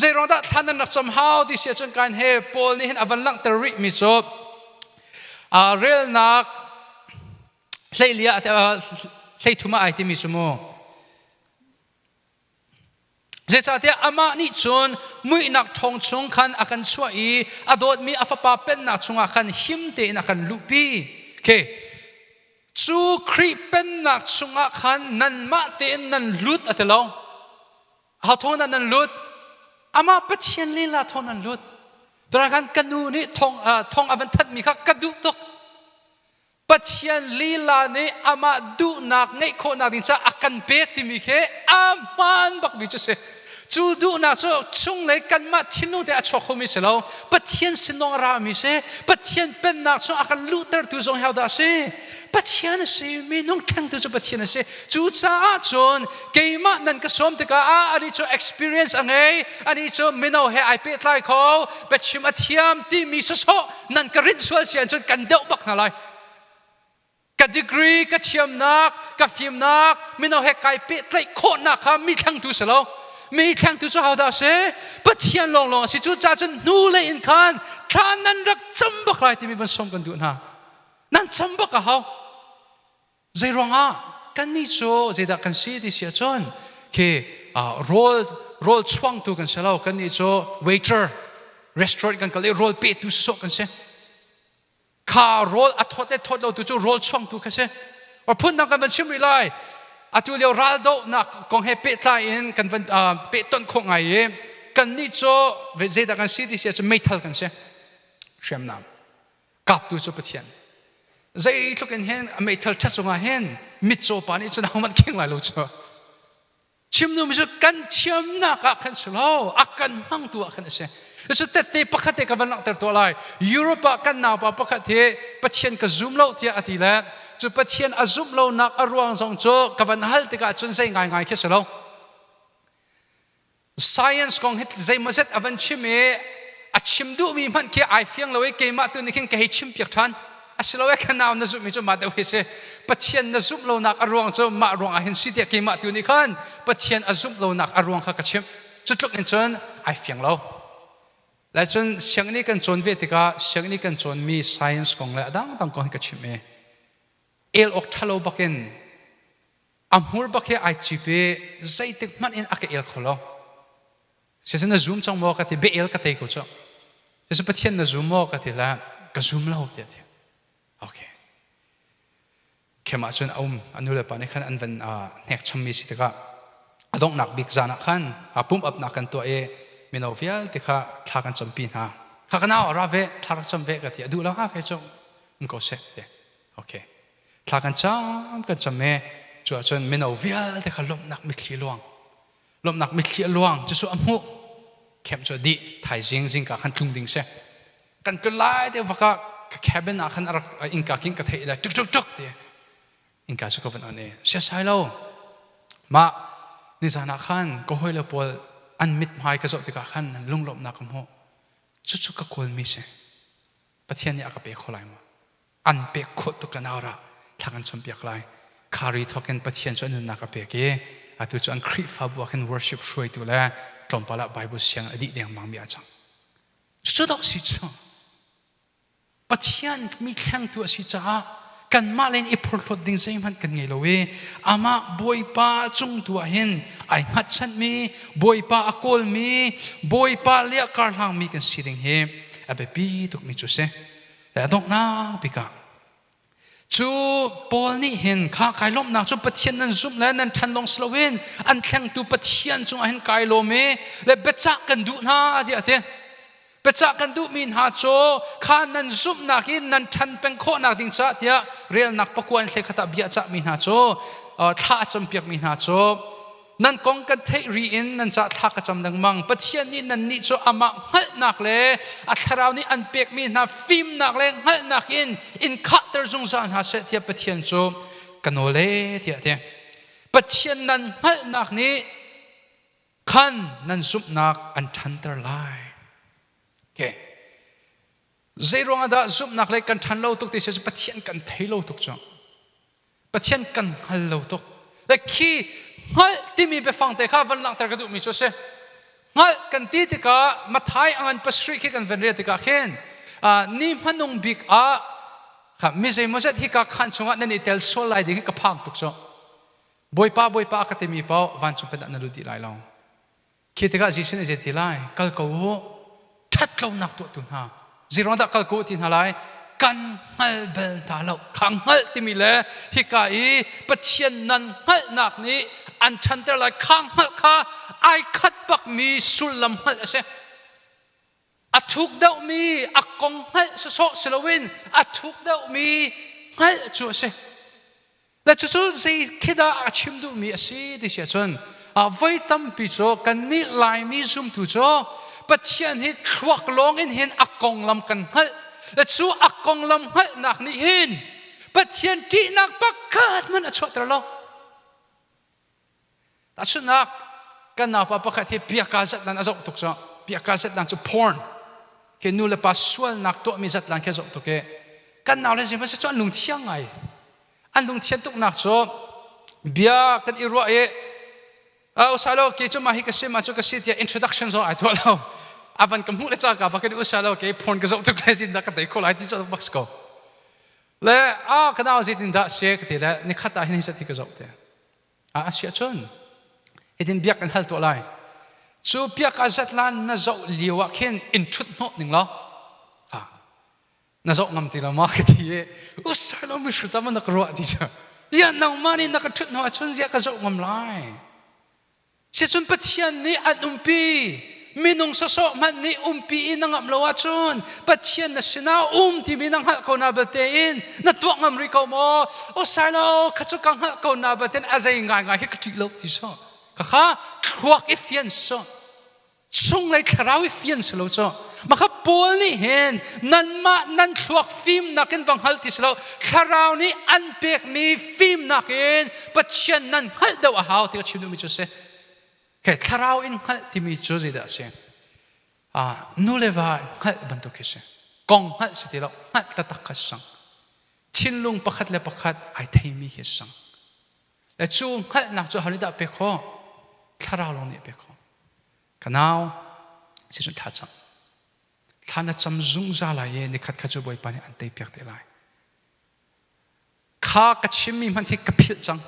zeiruang dah thlan nan rak cam hau ti si cun kan he paul nih hin a van langhter rih mi cu relnak hleiliah hlei thuma ai timi cu mu Zeicahtiah amah nih cun muihnak ṭhawng chung khan a kan chuah i a dawtmi a fapa pennak chungah khan him tein a kan luhpi. Okay. Cu Khrih pennak chungah khan nanmah tein nan lut a ti lo. How thawng dah nan lut? Amah Pathian lila thawng nan lut. Therang kan ka nu nih thong, uh, thong a van thanhmi kha ka duh tuk. Pathian lila nih amah duhnak ngeih khawhnak ding caah a kan pek timi khi a hmaan bakmi cu si. Cu duhnak cu chunglei kanmah thinlung te a chuak khomi si lo, Pathian sinawng a rami si. Pathian pennak cu a kan luhtertu zong hi dah a si? Pathian a si, minung ṭhengtu cu Pathian a si. Cucaah cun keimah nan ka sawm tikah ah anih cu experience a ngei, anih cu mino he ai pehtlai kho, biachim a thiam timi sawsawh nan ka rinh sual si ahcun kan deuh bak hna lai ka degree ka thiamnak ka fimnak mino he kai pehtlaih khawhnak kha mi thlangtu si lo mi thlangtu cu hau dah si pathian lawnglawng a si cu ca cun hnu lei in khan thla nan rak cam bak lai timi van som kan duh hna nan cam bak a hau Zeiruangah kannih cu zeidah kan si ti si ahcun khi rawl rawl chuangtu kan si lo kannih cu waiter restaurant kan kal i rawl petu sawsawh kan si kha rawl a thawt le thawt lotu cu rawl chuangtu kha si or phundang kan van chim rih lai atu lio raldohnak kong he pehtlai in kan van pehtonh khawh ngai i kannih cu zeidah kan si ti si ahcun meithal kan si hriamnam kaptu cu Pathian zeitluk in hen a meithal ṭhat cungah hen mitcaw pa nih cun ahohmanh keng lai lo cu chimnu mi cu kan thiamnak ah khan si lo a kan hmangtu ah khan a si cu tette pakhat te ka van langhter tuah lai Europe ah kan naupa pakhat hi Pathian ka zum lo tiah a ti le cu Pathian a zumh lonak a ruang zong cu ka van hal tikah cun zei ngaingai khi si lo science kong hi zeimaw zet a van chim i a chim duhmi hmanh khi ai fiang lo i keimah tu nih khin ka hei chim piak ṭhan a si lo e ka nau na zumhmi cu mah deuh hi si Pathian na zumh lonak a ruang cu mah ruang ah hin si tiah keimah tu nih khan Pathian a zumh lonak a ruang kha ka chimh cu tluk in cun ai fiang lo lai cun sianginn i kan cawn ve tikah sianginn i kan cawnmi science kong le a dangdang kong hi ka chimh i el awk ṭhalo bak in A hmur bak he ai cip i zeitik hmanh in a ka el kho lo. Siaseh na zoom cang maw ka ti, beh el ka tei ko cu. Siaseh Pathian na zoom maw ka ti la, ka zoom lo tiah ti. Okay. Kemah cun a um, a nu le pa nih khan an van hnek chommi si tikah a donghnak bik zan ah khan a pum apnak kan tuah i mino vialte kha thla kan campi hna. Kha ka nau a ra ve, thla rak cam ve ka ti, a duh lo haka cu, um ko seh, ti. Okay. Thla kan cam kan cam e cu ahcun mino vialte kha lawmhnak mitthli luang lawmhnak mitthli a luang cu a hmuh khem cu dih thaizing zingka khan tlung ding si kan ka lai te vaka ka cabin ah khan a rak inka king ka thei le tuk tuk tuk ti inka cu ka van on e sia sai lo ma nizan ah khan ka hoi le pawl an mit hmai ka zoh tikah khan lunglawmhnak ka hmuh cucu ka kawl mi si pathian nih a ka pe kho lai ma an pek khawh tuk ganauer ah thla kan cawnpiak lai. Khari thawkin Pathian cu a nunnak a pek i atu cu an Khrihfabu ah khin worship hruaitu le tlawmpal ah Baibal sianginn a dih dengmangmi a cang. Cucu dawh si cu. Pathian mi thlengtu a si caah kanmah le in i phurhlawt ding zeihmanh kan ngei lo i amah Bawipa cungtu ah hin ai hngatchanmi, Bawipa a kawlmi, Bawipa le a karhlangmi kan si ding hi a biapi tukmi cu si. a donghnak bikah cu Paul nih hin kha kai lawmhnak cu Pathian nan zumh le nan ṭhan lawng si loin an thlengtu Pathian cungah hin kai lawm i le biacah kan duh hna tiah a ti. Biacah kan duhmi hna cu kha nan zumhnak in nan ṭhan peng khawhnak ding caah tiah relnak pakua in hlekhat ah bia a cahmi hna cu thla a campiakmi hna cu nan kong kan theih ri in nan cah thla ka cam lengmang pathian nih nannih cu amah hngalhnak le a thlarau nih an pekmi hna fimnak le hngalhnak in in khahter zungzal hna seh tiah pathian cu ka nole tiah ti pathian nan hngalhnak nih khan nan zumhnak an ṭhanter lai okay Zeiruang ah dah zumhnak lei kan ṭhan lo tuk ti seh cu Pathian kan thei lo tuk cu. Pathian kan hngal lo tuk. Like khi hngalh timi biafang te kha van langhter ka duhmi cu a si. Hngalh kan ti tikah Mathai a ngan pasarih khi kan van rel tikah khin ni hmanung bik ah kha mi zeimawzet hi ka khan chungah nan i tel sual lai ding hi ka phang tuk cu. Bawipa, Bawipa ka timi paoh vancung pin ah na lut dih lai lo. Khi tikah Jesuh nih a zei ti lai? Kal ko u, ṭhatlonak tuahtu hna. Zeiruang dah kal ko u ti hna lai? Kan hngal bal hna lo. Kha hngalh timi le hika i Pathian nan hngalhnak nih an ṭhanter lai. Kha hngalh kha ai khat bakmi sullam hngalh a si. a thuk deuhmi a kong hngalh sawsawh si loin a thuk deuhmi hngalh cu a si. Na cucu zei khi dah a chim duhmi a si ti si ahcun voi tampi cu kannih Laimi zumtu cu Pathian hi thluak lawngin hin a konglam kan hngalh. Le cu a konglam hngalhnak nih hin Pathian ṭihnak pakhat hmanh a chuahter lo. Tahchunhnak, kan naupa pakhat hi piakka zatlan a zoh tuk cu. Piakka zatlan cu porn. Khi nulepa sualnak tuahmi zatlan khi a zoh tuk i kan nau le sihmanhseh cu an lungthiang ngai. An lungthian tuknak cu bia kan i ruah i uh, usa law kei cu mah hi ka si mah cu ka si tiah introduction zong ai tuah lo. A van ka hmuh le caka pa kan i usa law kei porn ka zoh tuk le zin dah ka tei kho lai ti cu bak si ko. le a ka dau zeitin dah se ka ti le nikhat ah hin hi ti ka zoh te a si cun hitin biak kan hal tuah lai cu biak a zatlan na zoh lio ah khin in ṭhut hnawh ning law na zoh ngam ti lo ma ka ti i usai lo mi hrut ama na ka ruah ti cu ya nangmah nih na ka ṭhut hnu ahcun zia ka zoh ngam lai Sicun Pathian nih an umpi minung sawsawh hmanh nih umpi i na ngamh lo ahcun Pathian na sinah um timi na hngalh ko na balte in na tuah ngam rih ko maw? O Silo, kha cu ka hngalh ko na balte in a zei ngaingai hi ka ṭih lo ti sawh. Khakha thluak i fian sawh. chunglei thlarau i fian si lo cu maka paul nih hin nanmah nan thluak fimnak in va hngal ti si lo thlarau nih an pekmi fimnak in pathian nan hngalh deuh a hau ti ka chim duhmi cu si okay, thlarau in hngalh timi cu zeidah a si ah nule va hngalh bantuk khi si kong hngalh si ti lo hngalh taktak kha si sang thinlung pakhat le pakhat ai theimi khi si sang Na cu hngalhnak cu ahonih dah pek khawh? Thlarau lawng nih a pek khawh. Ka nau, cun thla cam. Thla na cam zungzal lai i nikhat kha cu Bawipa nih an teipiak te lai. Kha ka chimmi hmanh hi ka philh cang.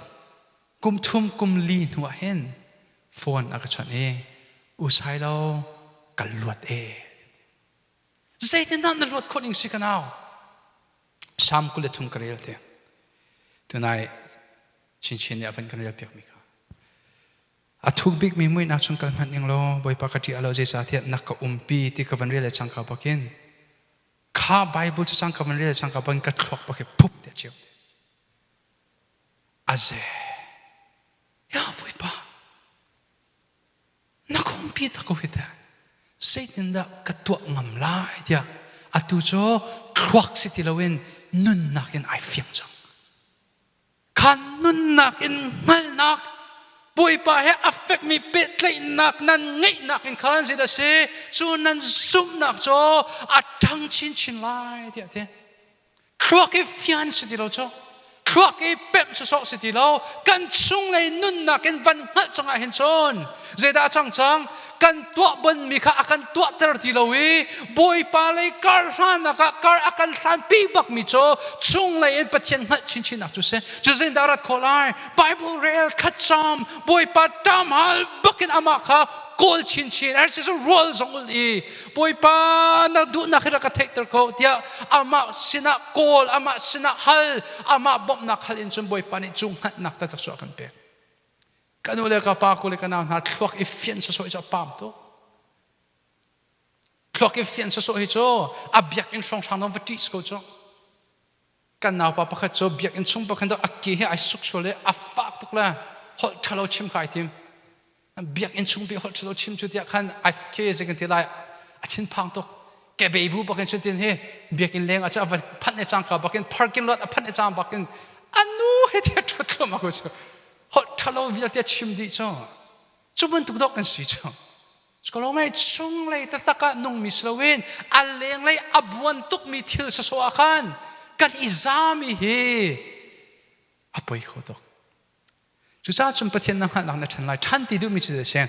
Kum thum kum li hnuah hin phone a ka chawnh i usai lo ka luat e. Zeitindah na luat khawh ning si ka nau? Salm kul le thum ka rel te. Tunai chinchin nih a van kan rel piakmi kha. A thuk bikmi muihnak chung kal hmanh ning law Bawipa ka ṭih lo zeicahtiah nak ka umpi ti ka van rel le cangka bakin kha Bible cu cangka van rel le cangka bakin ka thluak bak phup te ceu te. A ze. Ya Bawipa. Na khungpi ta ko hi teh zeitindah ka tuah ngam lai tiah atu cu thluak si ti loin nunnak in ai fiang cang kha nunnak in hngalnak Bawipa he a fekmi pehtlaihnak nan ngeihnak in khan zi da si cu nan zumhnak cu a ṭhang chinchin lai tiah ti thluak i fian si ti lo cu thluak i pemh sawsawh si ti lo kan chunglei nunnak in van hngalh cangah hin cun zeidah cang cang kan tuah bonmi kha a kan tuahter ti lo i bawipa lei kar hlannak ah kar a kan hlanpi bakmi cu chunglei in pathian hngalh chinchinnak cu si cu zindah rat khawh lai bible rel khatcam bawipa tam hal bakin amah kha kawl chinchin er si rual zong ul i Bawipa na duhnak hi rak ka theihter ko tiah amah sinah kawl amah sinah hal amah bawmhnak hal in cun Bawipa nih cu hngatnak ta cak kan pek ka nu le ka pa ku le ka nau hna thluak i fian sasawh hi cu a pam tuk thluak i fian sasawh hi cu a biakinn hrawnghrang nawn va ṭih ko cu kan naupa pakhat cu biakinn chung pakhat a ke hi ai suk sual i a fak tuk le holh ṭhalo chim kha ai tim biakinn chung bik holh ṭhalo chim cu tiah khan ai khi zei kan ti lai a thinphang tuk kebe bu bakin cun tin hi biakinn leng ah cu a va phanh le cangka bakin parking lot a phanh le cang bakin anu he ti a ṭhut thluam a ku cu holh ṭhalo vialte chim dih cu Cu bantuk dawh kan si cang. Sekolomai chunglei taktak ah nungmi si loin a lenglei a buan tukmi thil sasawh ah khan kan i zami hi a poi kho tuk. Cucaah cun Pathian na hngalh na ṭhan lai. Ṭhan ti duhmi cu zei a si?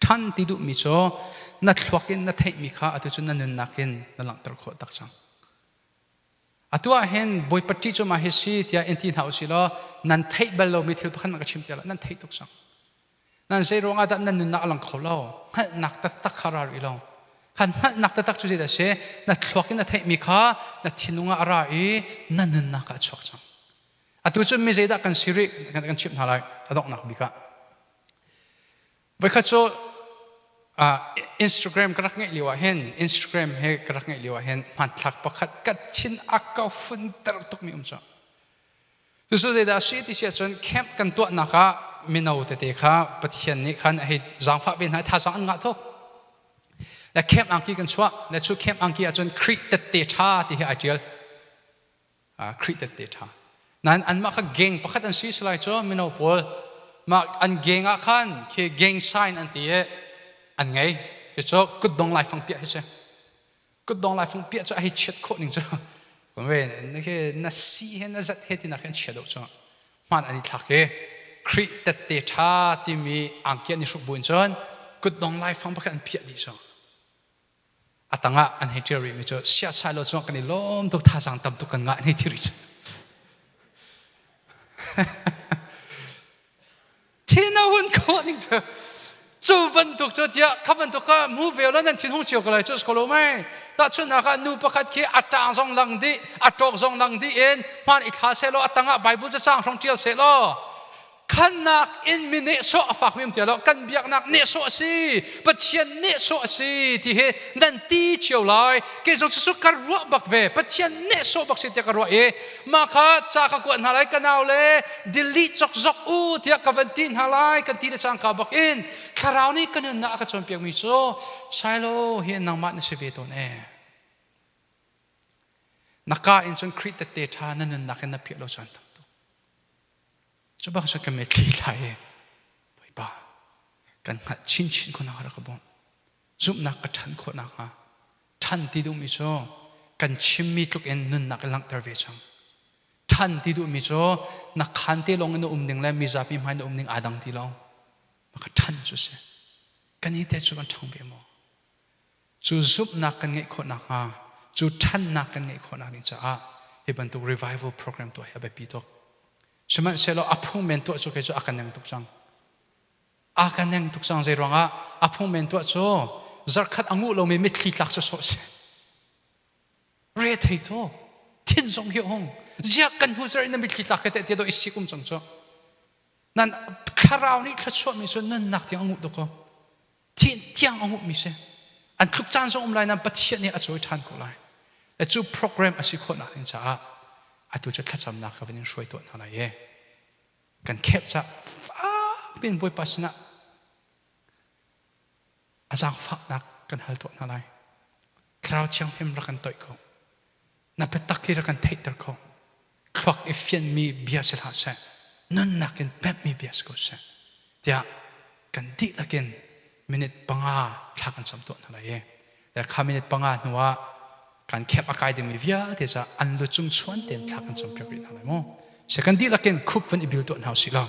Ṭhan ti duhmi cu na thluak in na theihmi kha atu cu na nunnak in na langhter khawh tak cang. Atu ah hin Bawipa ṭih cu mah hi si tiah in ti hna u sih law nan theih bal lomi thil pakhat man ka chim ti lo nan theih tuk sang nan zei ruang ah dah nan nunnak a lang kho lo hngalhnak taktak kha ra rih lo khan hngalhnak taktak cu zeidah a si na thluak in na theihmi kha na thinlung ah a ra i na nunnak ah a chuak cang atu cu mi zeidah kan si rih kan chimh hna lai a donghnak bik ah Voikhat cu Instagram ka rak ngeih lio ah hin Instagram he ka rak ngeih lio ah hin hmanthlak pakhat ka thin a ka funter tukmi um cu. Cucu zeidah a si ti si ahcun camp kan tuahnak ah mino tete kha Pathian nih khan a hei zaangfah ve hna i thazaang an ngah tuk. Le camp angki kan chuah. Le cu camp angki ahcun Khrih tette ṭha ti hi ai ṭial. Khrih tette ṭha. Nain anmah kha gang pakhat an si lai cu mino pawl mah an gang ah khan khi gang sign an ti i an ngei cucu kutdong laifang piah hi si kutdong laifang piah cu a hei chiat khawh ning cu khi na si he na zat he tinak hin chia deuh cu hman an i thlak i Khrih tette ṭha timi angkian ni hruk buin cun kutdong laifang pakhat an piah dih cu a tangah an hei ṭial rihmi cu siasah law cungah kan i lawm tuk thazaang tam tuk kan ngah an hei ti rih cu thina hun khawh ning cu cu bantuk cu tiah kha bantuk ka mu ve lo nan thinhung cio ko lai cu skolo mai tahchunhnak ah nu pakhat khi a ṭang zong lang dih a ṭawk zong lang dih in hman i thla seh law a tangah bible cacang hrong ṭial seh law khannak in mi nehsawh a fak hrim lo kan biaknak nehsawh a si pathian nehsawh a si ti hi nan ti cio lai kei zong cu ka ruah bak ve pathian nehsawh bak si tiah ka ruah i mah kha ca ka kuat hna lai ka nau le delete zokzok u tiah ka van ti hna lai kan ti le cang ka bak in thlarau nih ka nunnak a ka cawnpiak mi cu sailo hi nangmah na si ve tawn e na ka in cun Khrih tette ṭha na nunnak in na phiah lo cun Cubang sa ka met thei lai i Bawipa kan hngalh chinchin khawnak rak ka bawmh. Zumhnak ka ṭhan khawh nakhnga ṭhan ti duhmi cu kan chimmi tluk in nunnak i langhter ve cang. Ṭhan ti duhmi cu na khaan te lawng in na um ding le mizapi hmai na um ding aa dang ti lo. Mah ka ṭhan cu a si. Kan i te cu kan ṭhang ve maw? Cu zumhnak kan ngeih khawh nakhnga, cu ṭhannak kan ngeih khawh nakding caah hi bantuk revival program tuah hi a biapi tuk. Sihmanhsehlaw a phung men tuah cu kei cu a ka neng tuk cang. Aa ka neng tuk cang, zeiruangah? A phung men tuah cu zarhkhat a nguh lomi mitthli tlak cu sawh a si. Rethei tuk. Thin zong hi a hung ziak kan hnu zarh in na mitthli tlak kha teh tiah dawh i sikum cang cu. Nan thlarau nih thluachuahmi cu nunnak tiang a nguh tuk kaw, thih tiang a hmuhmi si. An tluk caan zong a um lai nain Pathian nih a cawi ṭhan ko lai. Na cu program a si khawhnak ding caah atu cu thlacamnak kha van in hruai tuah hna lai i kan khep cah fak piin Bawipa sinah a zaangfahnak kan hal tuah hna lai. Thlarau thianghlim rak kan toih ko. Na biatak hi rak kan theihter ko. Thluak i fianhmi bia si hlah seh, nunnak in pemhmi bia si ko seh, tiah kan dihlak in minute panga thla kan cam tuah hna lai i kha minute panga hnuah kan camp a kai dingmi vialte ca an lucung chuan tein thla kan campiak rih hna lai maw? Kan dihlak in khup vun i bil tuah hna u sih law.